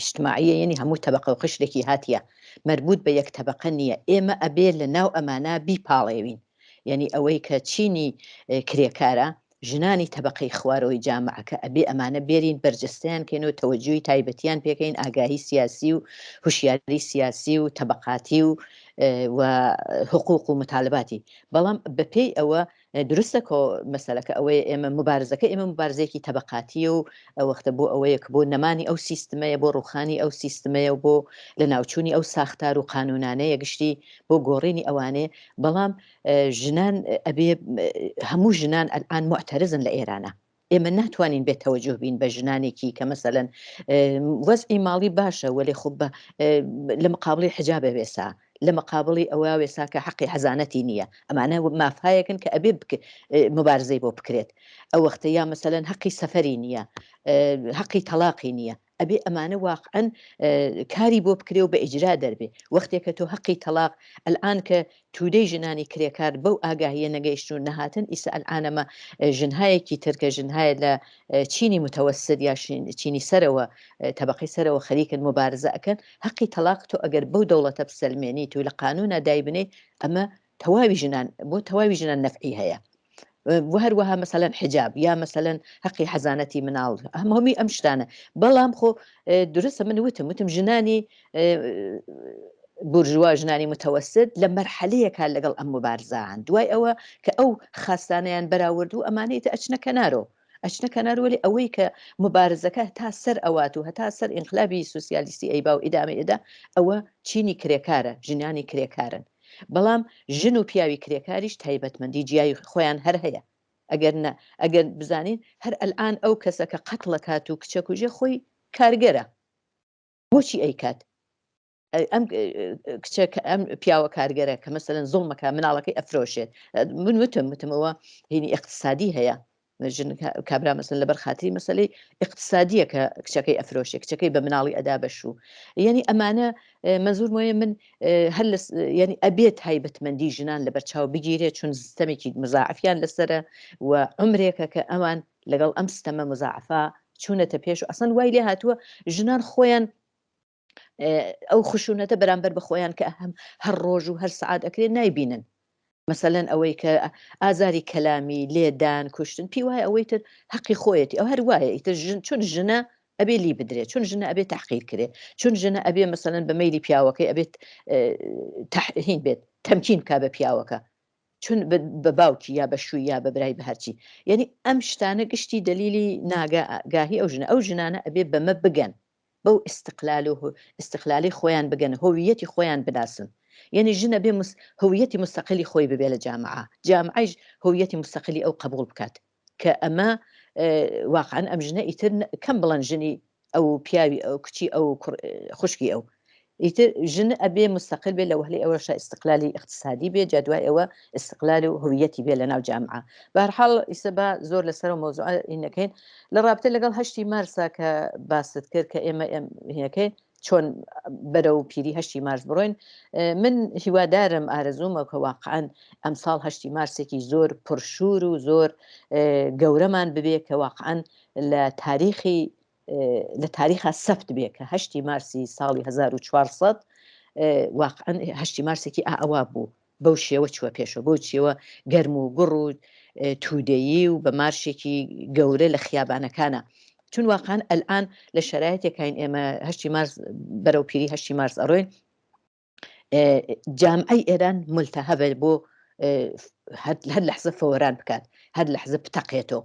اجتماعیە یەنی هەموو تەبەقە و قشرێکی هاتیە مەربوت بە یەک تەبەقە نیە ئێمە ئەبێ لە ناو ئەمانە بیپاڵێوین یەنی ئەوەی کە چینی کرێکارە ژنانی تەبەقەی خوارەوەی جامعەکە ئەبێ ئەمانە بێرین بەرجەستەیان کەین و تەوەجوی تایبەتیان پێکەین ئاگاهی سیاسی و هوشیاری سیاسی و تەبەقاتی و و حقوق و متالباتی بەڵام بە پێی ئەوە دروستە کۆ مەسەلەکە ئەوەیە ئێمە مبارزەکە ئێمە مبارزەیەکی تەبقاتیە و ئەوەختە بۆ ئەوەیە کە بۆ نەمانی ئەو سیستمەیە بۆ ڕوخانی ئەو سیستمەیە و بۆ لە ناوچووی ئەو ساختار و قانونانەیە گشتی بۆ گۆڕینی ئەوانێ بەڵام ژنان ئەبێ هەموو ژنان ئەلان معتەرزن لە ئێرانە ئێمە ناتوانین بێ تەوەجوه بین بە ژنانێکی کە مەسەلەن وەزعی ماڵی باشە وەلێ خۆ بە لە مقابڵی حجابە وێسا لە مقابڵی ئەوە وێسا کە حەقی حەزانەتی نییە ئەمانە مافایەکن کە ئەبێ مبارزەی بۆ بکرێت ئەو وەختە یا مەسەلەن حەقی سەفەری نییە حەقی تەلاقی نییە ئەبێ ئەمانە واقعەن کاری بۆ بکرێ و بە ئیجرا دەربێ وەختێ کە تۆ هەقی تەڵاق ئەلئان کە تودەی ژنانی کرێکار بەو ئاگاهیە نەگەیشتن و نەهاتن ئیسە ئەلئانەمە ژنهایەکی تر کە ژنهایە لە چینی متەوەسد یا چینی سەرەوە تەبقی سەرەوە خەریکن مبارزە ئەکەن هەقی تەلاق تۆ ئەگەر بەو دەوڵەتە بسەلمێنیت و لە قانونا دایبنەی ئەمە تەواوی ژنان بۆ تەواوی ژنان نەفعی هەیە هەروەها مەسەلەن حجاب یا مەسەلەن حەقی حەزانەتی مناڵ ئەم هەمی ئەم شتانە بەڵام خۆ درستە من وتم وتم ژنانی بورژوا ژنانی متەوەست لە مەرحەلەیەکە لەگەڵ ئەم مبارزان دوای ئەوە کە ئەو خاستانیان بەراورد و ئەمانەی تە ئەچنە کەنارۆ ئەچنە کەناروەلی ئەوەی کە مبارزەکە تا سەر ئەوات و هەتا سەر ئینقلابی سوسیالیستی ئەیبا و ئیدامە ئێدا ئەوە چینی کرێکارە ژنانی کرێکارن بەڵام ژن و پیاوی کرێکاریش تایبەتمەندی جیای خۆیان هەر هەیە ئەگەر نا ئەگەر بزانین هەر ئەلئان ئەو کەسە کە قەتڵ ئەکات و کچە کوژێ خۆی کارگەرە بۆچی ئەیکات ئەم کچە ئەم پیاوە کارگەرە کە مەسەن زڵمەکە مناڵەکەی ئەفرۆشێت من وتم وتمەوە هینی اقتصادی هەیە ژن کابرا مەسن لەبەر خاتری مەسلەی اقتصادیە کە کچەکەی ئەفرۆشێ کچەکەی بە مناڵی ئەدا بەشوو یعنی ئەمانە مەزور مۆیە من هەر ینی ئەبێت هایبەتمەندی ژنان لە بەرچاو بگیرێت چون سیستەمێکی مزاعفیان لەسرە و عمرێکە کە ئەوان لەگەڵ ئەم سیستەمە مزاعفا چوونەتە پێش و ئەسن وای لێ هاتووە ژنان خۆیان ئەو خشونەتە بەرامبەر بە خۆیان کە هەم هەر ڕۆژ و هەر سعات ئەکرێن نایبینن مەسەەن ئەوەی کە ئازاری کەلامی لێدان کوشتن پێی وایە ئەوەی تر حەقی خۆیەتی ئەو هەر وایە ئیتر ژن چون ژنە ئەبێ لی بدرێت چون ژنە ئەبێت تحقیر کرێ چون ژنە ئەبێ مەسەەن بە میلی پیاوەکەی ئەبێت تحهین بێت تەمکین کا بە پیاوەکە چون بە باوکی یا بە شووی یا بە برای بە هەرچی یعنی ئەم شتانە گشتی دلیلی ناگاهی ئەو ژنە ئەو ژنانە ئەبێ بەمە بگەن بەو ئیستقلال و ئیستقلالەی خۆیان بگەنە هۆوییەتی خۆیان بناسن یەنی ژن ئەبێ مس هۆوییەتی مستقلی خۆی ببێ لە جامعە جامعەیش هۆوییەتی مستقلی ئەو قەبووڵ بکات کە ئەمە اه واقعەن ئەم ژنە ئیتر کەم بڵەن ژنی ئەو و پیاوی ئەو کچی ئەو و کوڕ خوشکی ئەو ئیتر ژن ئەبێ مستقل بێ لەوهلی ئەوەشە ئیستقلالی ئیقتسادی بێ جا دوای ئەوە ئیستقلال و هویەتی بێ لەناو جامعە بەهەرحاڵ ئیسە با زۆر لەسەرەوە مەوزوعە ی نەکەین لە ڕابتە لەگەڵ هەشتی مارسا کە باست کرد کە ئێمە ئێم هەکەین چۆن بەرەو پیری هەشتی مارس بڕۆین من هیوادارم ئارەزوومە کە واقعان ئەمساڵ هەشتی مارسێکی زۆر پرشور و زۆر گەورەمان ببێ کە واقعان لە تاریخی لە تاریخا سەفت بێ کە هەشتی مارسی ساڵی 1400 واقعن هەشتی مارسێکی ئاوا بوو بەو شێوە چوە پێشەوە بۆ چیەوە گەرم و گوڕ و تودەیی و بە مارشێکی گەورە لە خیابانەکانە چون واقعان ئەلان لە شرایەتێکین ئێمە هەشتی مارس بەرەو پیری هەشتی مارس ئەڕۆین جامعی ئێران ملتە هەبێ بۆ هەر لەحزە فۆران بکات هەر لەحزە بتەقێتەوە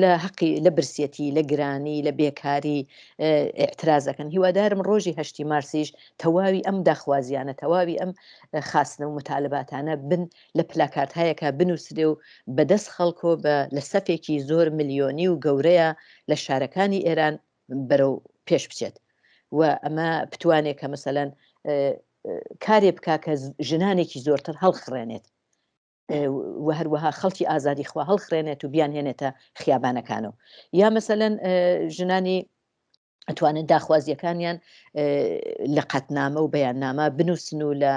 لە هەقی لە برسیەتی لە گرانی لە بێکاری ئاعترازەکەن هیوادارم ڕۆژی هەشتی مارسیش تەواوی ئەم داخوازیانە تەواوی ئەم خاستنە و متالباتانە بن لە پلاکارت هەیەکە بنووسێ و بەدەست خەڵکۆ بە لە سەفێکی زۆر ملیۆنی و گەورەیە لە شارەکانی ئێران بەرەو پێش بچێت و ئەمە بتوانێت کە مەسەەن کارێ بک کە ژنانێکی زۆرتر هەڵخڕێنێت و هەروەها خەڵکی ئازادی خوا هەڵخرێنێت و بیان هێنێتە خیابانەکانەوە یا مەسەەن ژنانی ئەتوانن داخوازیەکانیان لە قەتنامە و بەیاننامە بنووسن و لە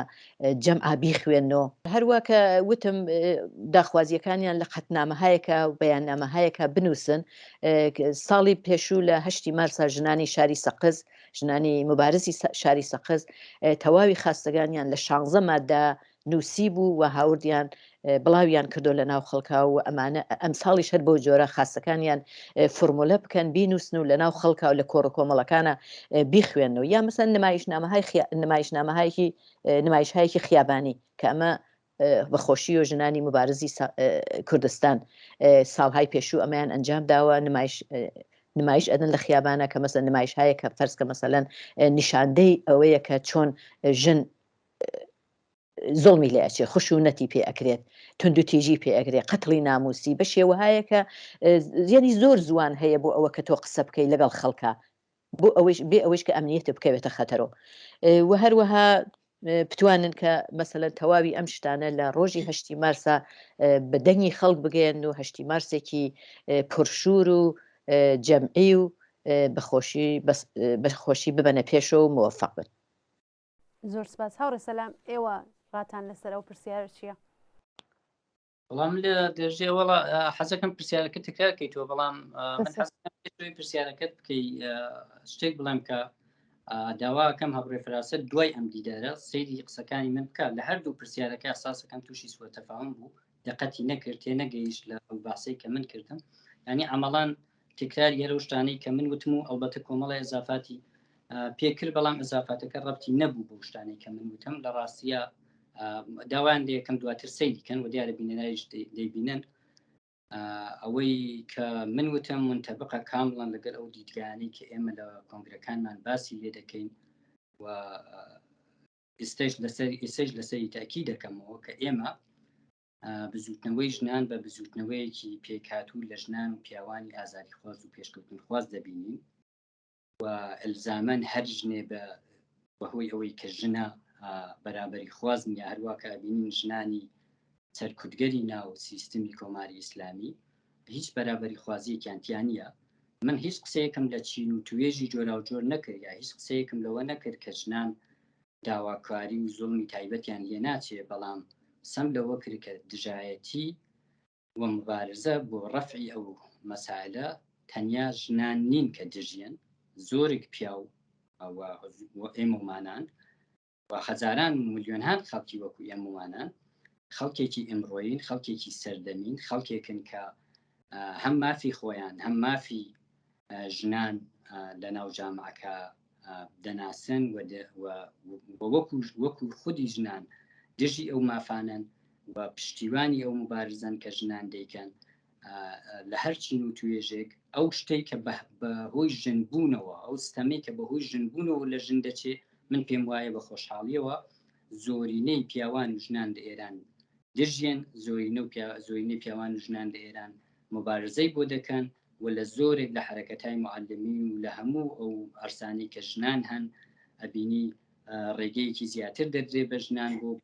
جەم ئابی خوێنەوە هەروە کە وتم داخوازیەکانیان لە قەتنامەهایەکە و بەیاننامەهایەکە بنووسن ساڵی پێشوو لە هەشتی مارسا ژنانی شاری سەقز ژنانی مبارزی شاری سەقز تەواوی خاستەکانیان لە شانزە مادە نوسیبوو و هاوردیان بڵاویان کردوە لە ناو خەڵکا و ئەمانە ئەمساڵیش هەر بەو جۆرە خاستەکانیان فورمولە بکەن بینوسن و لە ناو خەڵکا و لە کۆڕ و کۆمەڵەکانا بیخوێنەوە یا مەسەن نمایشنامەهای خیا نمایشنامەهایەکی نمایشهایەکی خیابانی کە ئەمە بە خۆشی و ژنانی مبارزی سا کوردستان ساڵهای پێشوو ئەمەیان ئەنجام داوە نمایش نمایش ئەدن لە خیابانە کە مەسە نمایش هەیە کە فەرزکە مەسەلەن نیشاندەی ئەوەیە کە چۆن ژن زوڵمی لێ ئەچێ خشونەتی پێ ئەکرێت توندوتیژی پێ ئەگرێ قەتڵی ناموسی بە شێوەهایەکە زیێنی زۆر زوان هەیە بۆ ئەوە کە تۆ قسە بکەی لەگەڵ خەڵکە بۆ ئەوەیش بێ ئەوەیش کە ئەمنیەتە بکەوێتە خەتەرۆ و هەروەها بتوانن کە مەسەلەن تەواوی ئەم شتانە لە ڕۆژی هەشتی مارسا بە دەنگی خەڵک بگەن و هەشتی مارسێکی پرشور و جەمعی و بەخۆشی بەخۆشی ببەنە پێشەوە و مۆفق بن زۆر سپاس هاوڕێ سەلام ئێوە ڕاتان لەسەر ئەو پرسیارە چییە؟ بەڵام لە دەژێ وڵا حەزەکەم پرسیارەکە تکرار کەیتەوە بەڵام پرسیارەکەت بکەی شتێک بڵێم کە داواکەم هەبڕێ فراست دوای ئەم دیدارە سەیری قسەکانی من بکات لە هەردوو پرسیارەکە ساسەکەم تووشی سوەتەفاون بوو دقەتی نەکرد تێ نەگەیشت لە ئەو باسەی کە من کردم ینی ئەمەڵان تکرار یەرە شتانەی کە من وتم و ئەڵبەتە کۆمەڵی ئەزافاتی پێکرد بەڵام ئەزافاتەکە ڕەتی نەبوو بۆ شتانەی کە من وتم لە ڕاستە داوایان لەکەم دواتر سەی دیکەن و دیارە بینەرایش دەیبینن ئەوەی کە من وتم من تەبقە کامڵان لەگەر ئەو دیدگانی کە ئێمە لە کۆنگرەکانمان باسی لێ دەکەین و ئێستەش لەسەر ئێسەش لەسەری تاکی دەکەمەوە کە ئێمە بزوتنەوەی ژنان بە بزوتنەوەیەکی پێکاتوو لە ژنان و پیاوانی ئازاری خواز و پێشکەوتن خواز دەبینین و ئەلزامەن هەر ژنێ بە بەهۆی ئەوەی کە ژنە بەرابری خواز نیە هەروواکە بینین ژنانی سەرکوتگەری ناو سیستمی کۆماری ئیسلامی هیچ بەرابەری خوازیەکیان تیا نیە، من هیچ قسەیەکم لە چین و توێژی جۆراوجۆر نەکرد یا هیچ قسەیەکم لەوە نەکرد کە ژنان داواکاری و زوڵمی تایبەتیان لێ ناچێ بەڵام قسەم لەوە کرد کە دژایەتی و موبارزە بۆ ڕەفعی ئەو مەسایلە تەنیا ژنان نین کە دژیەن زۆرێک پیاو و ئێمەمانان و هەزاران و ملیۆنهان خەڵکی وەکو ئێمەوانان خەڵکێکی ئەمڕۆین خەڵکێکی سەردەمین خەڵکێکن کە هەم مافی خۆیان هەم مافی ژنان لە ناو جامعەکە دەناسن وەکو وەکو خودی ژنان دژی ئەو مافانن و پشتیوانی ئەو مبارزن کە ژنان دەیکەن لە هەر چین و توێژێک ئەو شتێک کە بە هۆی ژنبوونەوە ئەو ستەمێک کە بە هۆی ژنبوونەوە لە ژن دەچێت من پێم وایە بە خۆشحاڵیەوە زۆرینەی پیاوان و ژنان لە ئێران دژێن زۆرینە و زۆرینەی پیاوان و ژنان لە ئێران مبارزەی بۆ دەکەن و لە زۆرێک لە حرەکەتای معلمی و لە هەموو ئەو ئەرسانی کە ژنان هەن ئەبینی ڕێگەیەکی زیاتر دەدرێ بە ژنان بۆ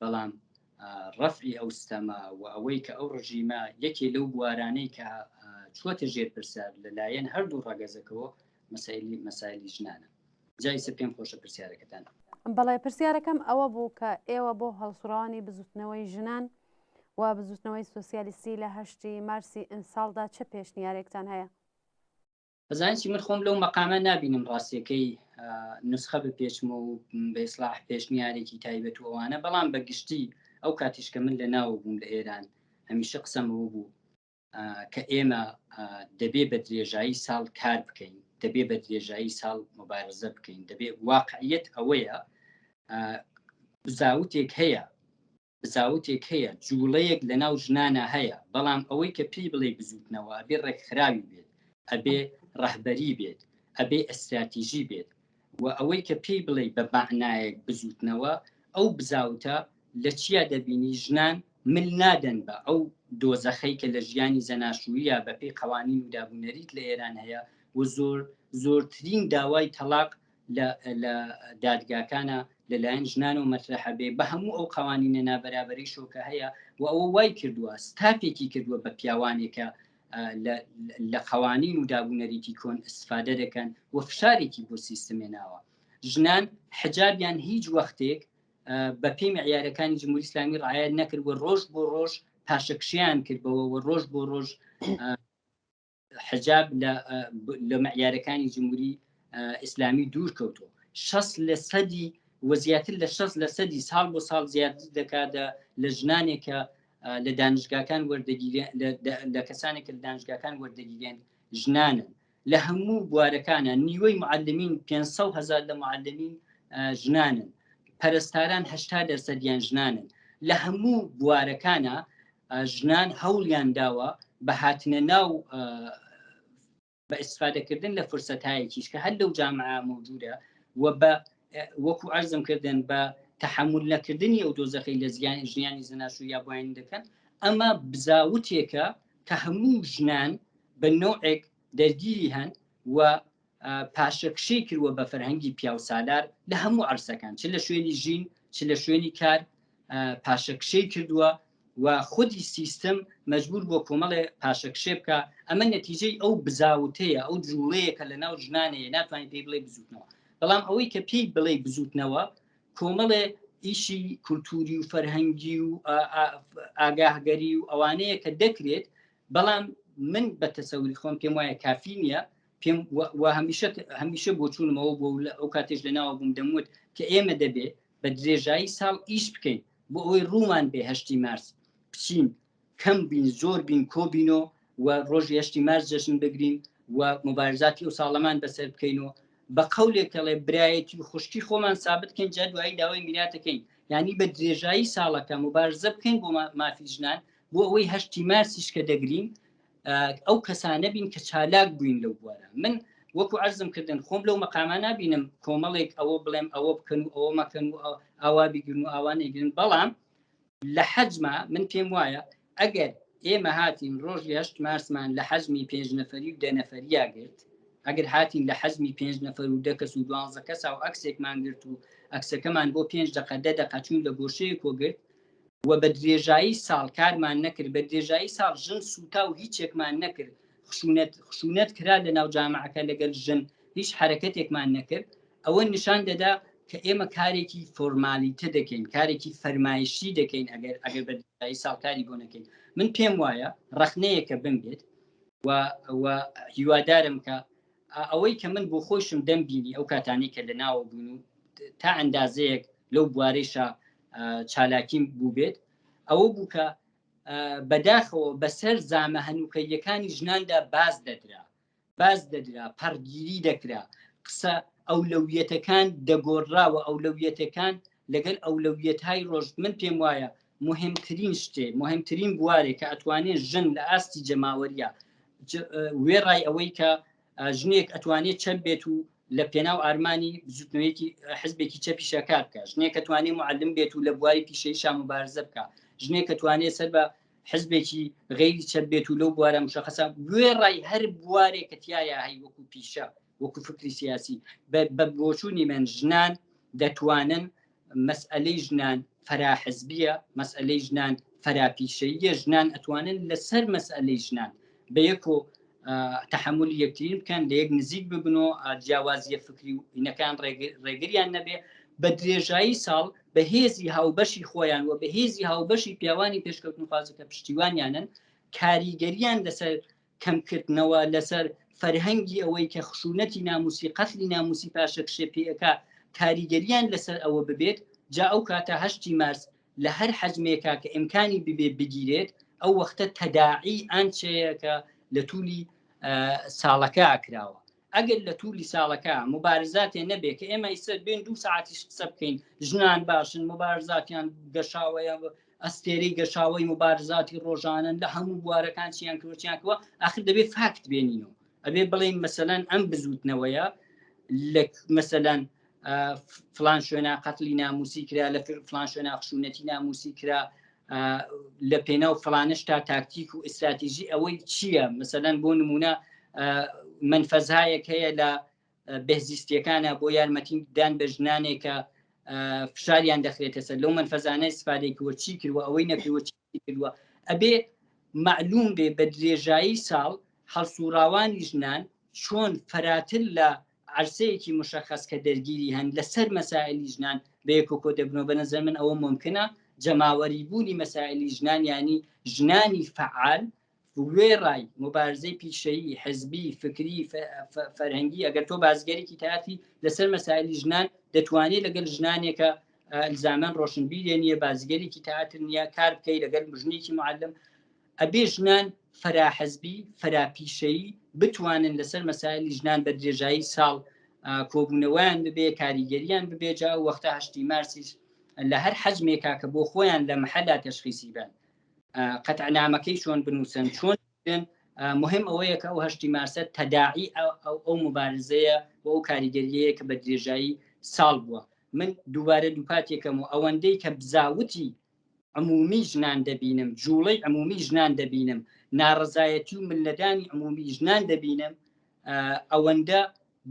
بەڵام ڕەفعی ئەو ستەمە و ئەوەی کە ئەو ڕژیمە یەکێ لەو بوارانەی کە چوەتە ژێر پرسە لەلایەن هەردوو ڕەگەزەکەەوە مەسایلی مەسایلی ژنانە جای سە پێم خۆشە پرسیارەکەتان بەڵێ پرسیارەکەم ئەوە بوو کە ئێوە بۆ هەڵسوڕانی بزوتنەوەی ژنان و بزوتنەوەی سوسیالیستی لە هەشتی مارسی ئمساڵدا چ پێشنیارێکتان هەیە؟ بەزانانی چی من خۆم لەو مەقامە نبینم ڕاستیەکەی نسخە بە پێچمە و بەیسلاح پێشنیارێکی تایبەت ووانە بەڵام بە گشتی ئەو کاتیشکە من لە ناو بووم لە ئێران هەمیشە قسەمەوە بوو کە ئێمە دەبێ بە درێژایی ساڵ کار بکەین دەبێ بە درێژایی ساڵ مبارزە بکەین دەبێ واقعیت ئەوەیە زاوتێک هەیە بزاوتێک هەیە جوڵەیەک لەناو ژنانا هەیە بەڵام ئەوەی کە پێی بڵێی بزوتنەوە ئەبێ ڕێکخراوی بێت ئەبێ ڕەهبەری بێت ئەبێ ئەستراتیژی بێت و ئەوەی کە پێی بڵێی بە بەعنایەک بزوتنەوە ئەو بزاوتە لە چیا دەبینی ژنان مل نادەن بە ئەو دۆزەخەی کە لە ژیانی زەناشویە بەپێی قەوانین و دابونەریت لە ئێران هەیە و زۆر زۆرترین داوای تەلاق لە لە دادگاکانە لەلایەن ژنان و مەسرحە بێ بە هەموو ئەو قوانینە نابەرابەری شۆکە هەیە و ئەوە وای کردووە ستاپێکی کردووە بە پیاوانێکە لە قوانین و دابوونەریتی کۆن استفادە دەکەن و فشارێکی بۆ سیستمێ ناوە ژنان حجابیان هیچ وەختێک بە پێی معیارەکانی جمهوری اسلامی ڕایەت نەکرد و ڕۆژ بۆ ڕۆژ پاشەکشیان کردەوە و ڕۆژ بۆ ڕۆژ حجاب لە مەعیارەکانی جمهوری ئیسلامی دوور کەوتۆ شەست لە سەدی و زیاتر لە شەست لە سەدی ساڵ بۆ ساڵ زیاتر دەکات لە ژنانێکە لە دانشگاکان لە کەسانێک لە دانشگاکان وەردەگیرێن ژنانن لە هەموو بوارەکانە نیوەی معلمین 500 هزار لە معلمین ژنانن پەرستاران هشتا دەرسەدیان ژنانن لە هەموو بوارەکانە ژنان هەوڵیان داوە بە هاتنە ناو بە ئیسفادەکردن لە فرسەتایەکیش کە هەر لەو جامع مەوجودە و بە وەکو ئەرزم کردن بە تحمل نەکردنی ئەو دۆزەخی لە زیان ژیانی زناشو یا بۆین دەکەن ئەمە بزاوتێکە کە هەموو ژنان بە نوعێک دەرگیری هەن و پاشەکشەی کردوە بە فەرهەنگی پیاوسالار لە هەموو عرسەکان چ لە شوێنی ژین چ لە شوێنی کار پاشەکشەی کردووە و خودی سیستم مجبور بۆ کۆمەڵێ پاشەکشێ بکە ئەمە نەتیجەی ئەو بزاوتەیە ئەو جوڵەیە کە لە ناو ژنانەیە ناتوانین پێی بڵێ بزوتنەوە بەڵام ئەوەی کە پێی بڵێ بزوتنەوە کۆمەڵێ ئیشی کولتوری و فەرهەنگی و ئاگاهگەری و ئەوانەیە کە دەکرێت بەڵام من بە تەسەوری خۆم پێم وایە کافی نییە پێم و هەمیشە هەمیشە بۆ چوونمەوە بۆ لە ئەو کاتێش لەناوە بووم دەموت کە ئێمە دەبێ بە درێژایی ساڵ ئیش بکەین بۆ ئەوەی ڕوومان بێ هەشتی مارس بچین کەم بین زۆر بین کۆبینۆ و ڕۆژ هەشتی مارس جەشن بگرین و مبارزاتی و ساڵەمان بەسەر بکەین و بە قولێکەڵێ برایەتی و خوشکی خۆمان سابت کەین جا دوایی داوای میراتەکەین ینی بە درێژایی ساڵەکە مبارزە بکەین بۆ مافی ژنان بۆ ئەوەی هەشتی مارسیش کە دەگرین ئەو کەسانە بین کە چالاک بووین لەو بوارە من وەکو ئەرزم کردن خۆم لەو مەقامان نبینم کۆمەڵێک ئەوە بڵێم ئەوە بکەن و ئەوە مەکەن و ئاوا بگرن و ئاوانەگرن بەڵام لە حەجما من پێم وایە ئەگەر ئێمە هاتین ڕۆژ هشت مارسمان لە حەزمی پێنج نەفری و دەنەفریا گرت ئەگەر هاتین لە حەزمی پێنج نەفر و دەکەس و دوانزە کەسا و ئەکسێکمان گرت و ئەکسەکەمان بۆ پێنج دقە دە دەقەچوون لە گۆشەیە کۆگرت و بە درێژایی ساڵ کارمان نەکرد بە درێژایی ساڵ ژن سووتا و هیچێکمان نەکرد خشونەت خشونەت کرا لە ناو جامعەکە لەگەل ژن هیچ حرەکەتێکمان نەکرد ئەوە نیشان دەدا کە ئێمە کارێکی فۆرمالیتە دەکەین کارێکی فەرمایشی دەکەین ئەگەر ئەگەر بە ساڵکاری بۆ نەکەین من پێم وایە ڕخنەیەکە بم بێت و هیوادارم کە ئەوەی کە من بۆ خۆشم دەم بینی ئەو کاتانی کە لە ناوە بوون و تا ئەندازەیەک لەو بوارەیشا چالاکیم بووبێت ئەوە بوو کە بەداخەوە بەسەر زامە هەنووکەیەکانی ژناندا باز دەدرا باز دەدرا پەڕگیری دەکرا قسە ئەو لەویەتەکان دەگۆڕراوە ئەو لەویەتەکان لەگەل ئەو لەویەت های ڕۆژ من پێم وایە مهمترین شتێ مهمترین بوارێک کە ئەتوانێت ژن لە ئاستی جەماوەریە وێڕای ئەوەی کە ژنێک ئەتوانێت چەپ بێت و لە پێناو ئارمانی بزوتنەوەیەکی حزبێکی چەپی شەکار بکە ژنێک ئەتوانێت معلم بێت و لە بواری پیشەی شام و بارزە بکە ژنێک ئەتوانێت سەر بە حزبێکی غیری چەپ بێت و لەو بوارە مشەخەسە گوێ ڕای هەر بوارێک کە تایە هەی وەکو پیشە وەکو فکری سیاسی بە بۆچوونی من ژنان دەتوانن مەسئەلەی ژنان فەرا حزبیە مەسئەلەی ژنان فەرا پیشەییە ژنان ئەتوانن لەسەر مەسئەلەی ژنان بە یەک و تحملی یەکترین بکەن لە یەک نزیک ببن و جیاوازیە فکری و ئینەکان ڕێگریان نەبێ بە درێژایی ساڵ بە هێزی هاوبەشی خۆیان و بە هێزی هاوبەشی پیاوانی پێشکەوتنخوازەکە پشتیوانیانن کاریگەریان لەسەر کەمکردنەوە لەسەر فەرهەنگی ئەوەی کە خشونەتی ناموسی قەتلی ناموسی پاشەکشێ پێەکە کاریگەریان لەسەر ئەوە ببێت جا ئەو کاتە هەشتی مارس لە هەر حەجمێکا کە ئیمکانی ببێ بگیرێت ئەو وەختە تەداعی ئەنچەیە کە لە تولی ساڵەکە ئاکراوە ئەگەر لە تولی ساڵەکە مبارزاتێ نەبێ کە ئێمە ئیسە بێن دوو ساعتیش قسە بکەین ژنان باشن مبارزاتیان گەشاوەیە ئەستێرەی گەشاوەی مبارزاتی ڕۆژانن لە هەموو بوارەکان چیان کروچیانکەوە ئەخر دەبێت فاکت بێنینەوە ئەبێ بڵێن مەسەەن ئەم بزوتنەوەیە لە مەسەەن فلان شوێنە قەتلی ناموسی کرا لە فلان شوێنە خشونەتی ناموسی کرا لە پێناو فلانش تا تاکتیک و ئستراتیژی ئەوەی چییە مثلەن بۆ نمونە منفەزایەک هەیە لە بهزیستیەکانە بۆ یارمەتی دان بە ژنانێکە فشاریان دەخرێتە سەر لەو منفەزانە سپادێک وە چی کردوە ئەوەی نەکردوە چی کردووە ئەبێ معلوم بێ بە درێژایی ساڵ هەڵسوڕاوانی ژنان چۆن فراتر لە عەرسەیەکی مشەخەس کە دەرگیری هەن لەسەر مەسائیلی ژنان بەیەکەوە کۆدەبنەوە بەنەزەر من ئەوە مۆمکنە جەماوەری بوونی مەسائیلی ژنان ینی ژنانی فعال وێڕای مبارزەی پیشەیی حزبی فکری فەرهەنگی ئەگەر تۆ بازگەرێکی تاتی لەسەر مەسایلی ژنان دەتوانێت لەگەل ژنانێکە زامان ڕۆشنبیرێ نیە بازگەرێکی تاتر نیە کار بکەی لەگەل مژنێکی معلم ئەبێ ژنان فرە حزبی، فرە پیشەیی بتوانن لەسەر مەسایلی ژنان بە درێژایی ساڵ کۆبوونەوەیان ببێ کاریگەریان ببێ جا وەختە هەشتی مارسیش لە هەر حەجمێکا کە بۆ خۆیان لە محەلا تەشخیسی بن قەتعنامەکەی چۆن بنووسن چۆن بن مهم ئەوەیە کە ئەو هەشتی مارسە تەداعی ئەو مبارزەیە بۆ ئەو کاریگەریەیە کە بە درێژایی ساڵ بووە من دووبارە دووپاتێکەم و ئەوەندەی کە بزاوتی عمومی ژنان دەبینم جوڵەی عمومی ژنان دەبینم ناڕزایەتی و ملەدانی عمومی ژنان دەبینم ئەوەندە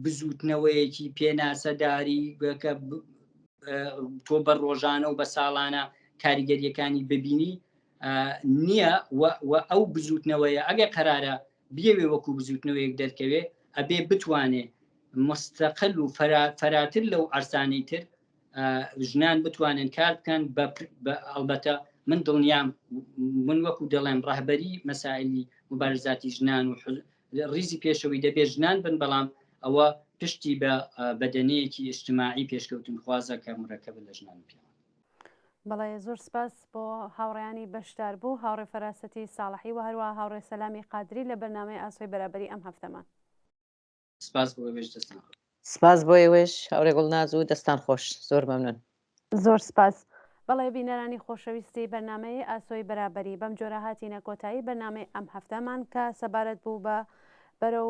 بزوتنەوەیەکی پێناسەداری گەکە تۆ بە ڕۆژانە و بە ساڵانە کاریگەریەکانی ببینی نییە و ئەو بزوتنەوەیە ئەگە قەرارە بیەوێ وەکو بزوتنەوەیەک دەرکەوێ ئەبێ بتوانێ مستەقل و فەراتر لەو ئەرسانەی تر ژنان بتوانن کار بکەن ئەڵبەتە من دڵنیام من وەکو دەڵێم ڕهبەری مەسائلی مبارزاتی ژنان و ڕیزی پێشەوەی دەبێ ژنان بن بەڵام ئەوە پشتی بە بەدەنەیەکی ئیشتماعی پێشکەوتن خوازە کە مرەکە بە لە ژنان پێ بەڵێ زۆر سپاس بۆ هاوڕیانی بەشدار بوو هاوڕێ فەراسەتی ساڵحی و هەروە هاوڕێ سەلامی قادری لە بەرنمەی ئاسۆی بەرابری ئەم هەفتەمان. سپاس بۆ ئێوەش دەستان خۆش. سپاس بۆ ئێوەش هاورێ گوڵناز و دەستان خۆش زۆر مەمنون. زۆر سپاس. بەڵێ بینەرانی خۆشەویستی بەرنامەی ئاسۆی بەرابەری بەم جۆرە هاتینە کۆتایی بەرنامەی ئەم هەفتەمان کە سەبارەت بوو بە بەرەو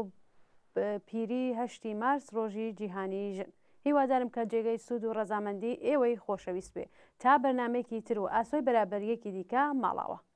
پیری هەشتی مارس ڕۆژی جیهانی ژن هیوادارم کە جێگەی سوود و ڕەزامەندی ئێوەی خۆشەویست بێ تا بەرنمێکی تر و ئاسۆی بەرابەریەکی دیکە ماڵاوە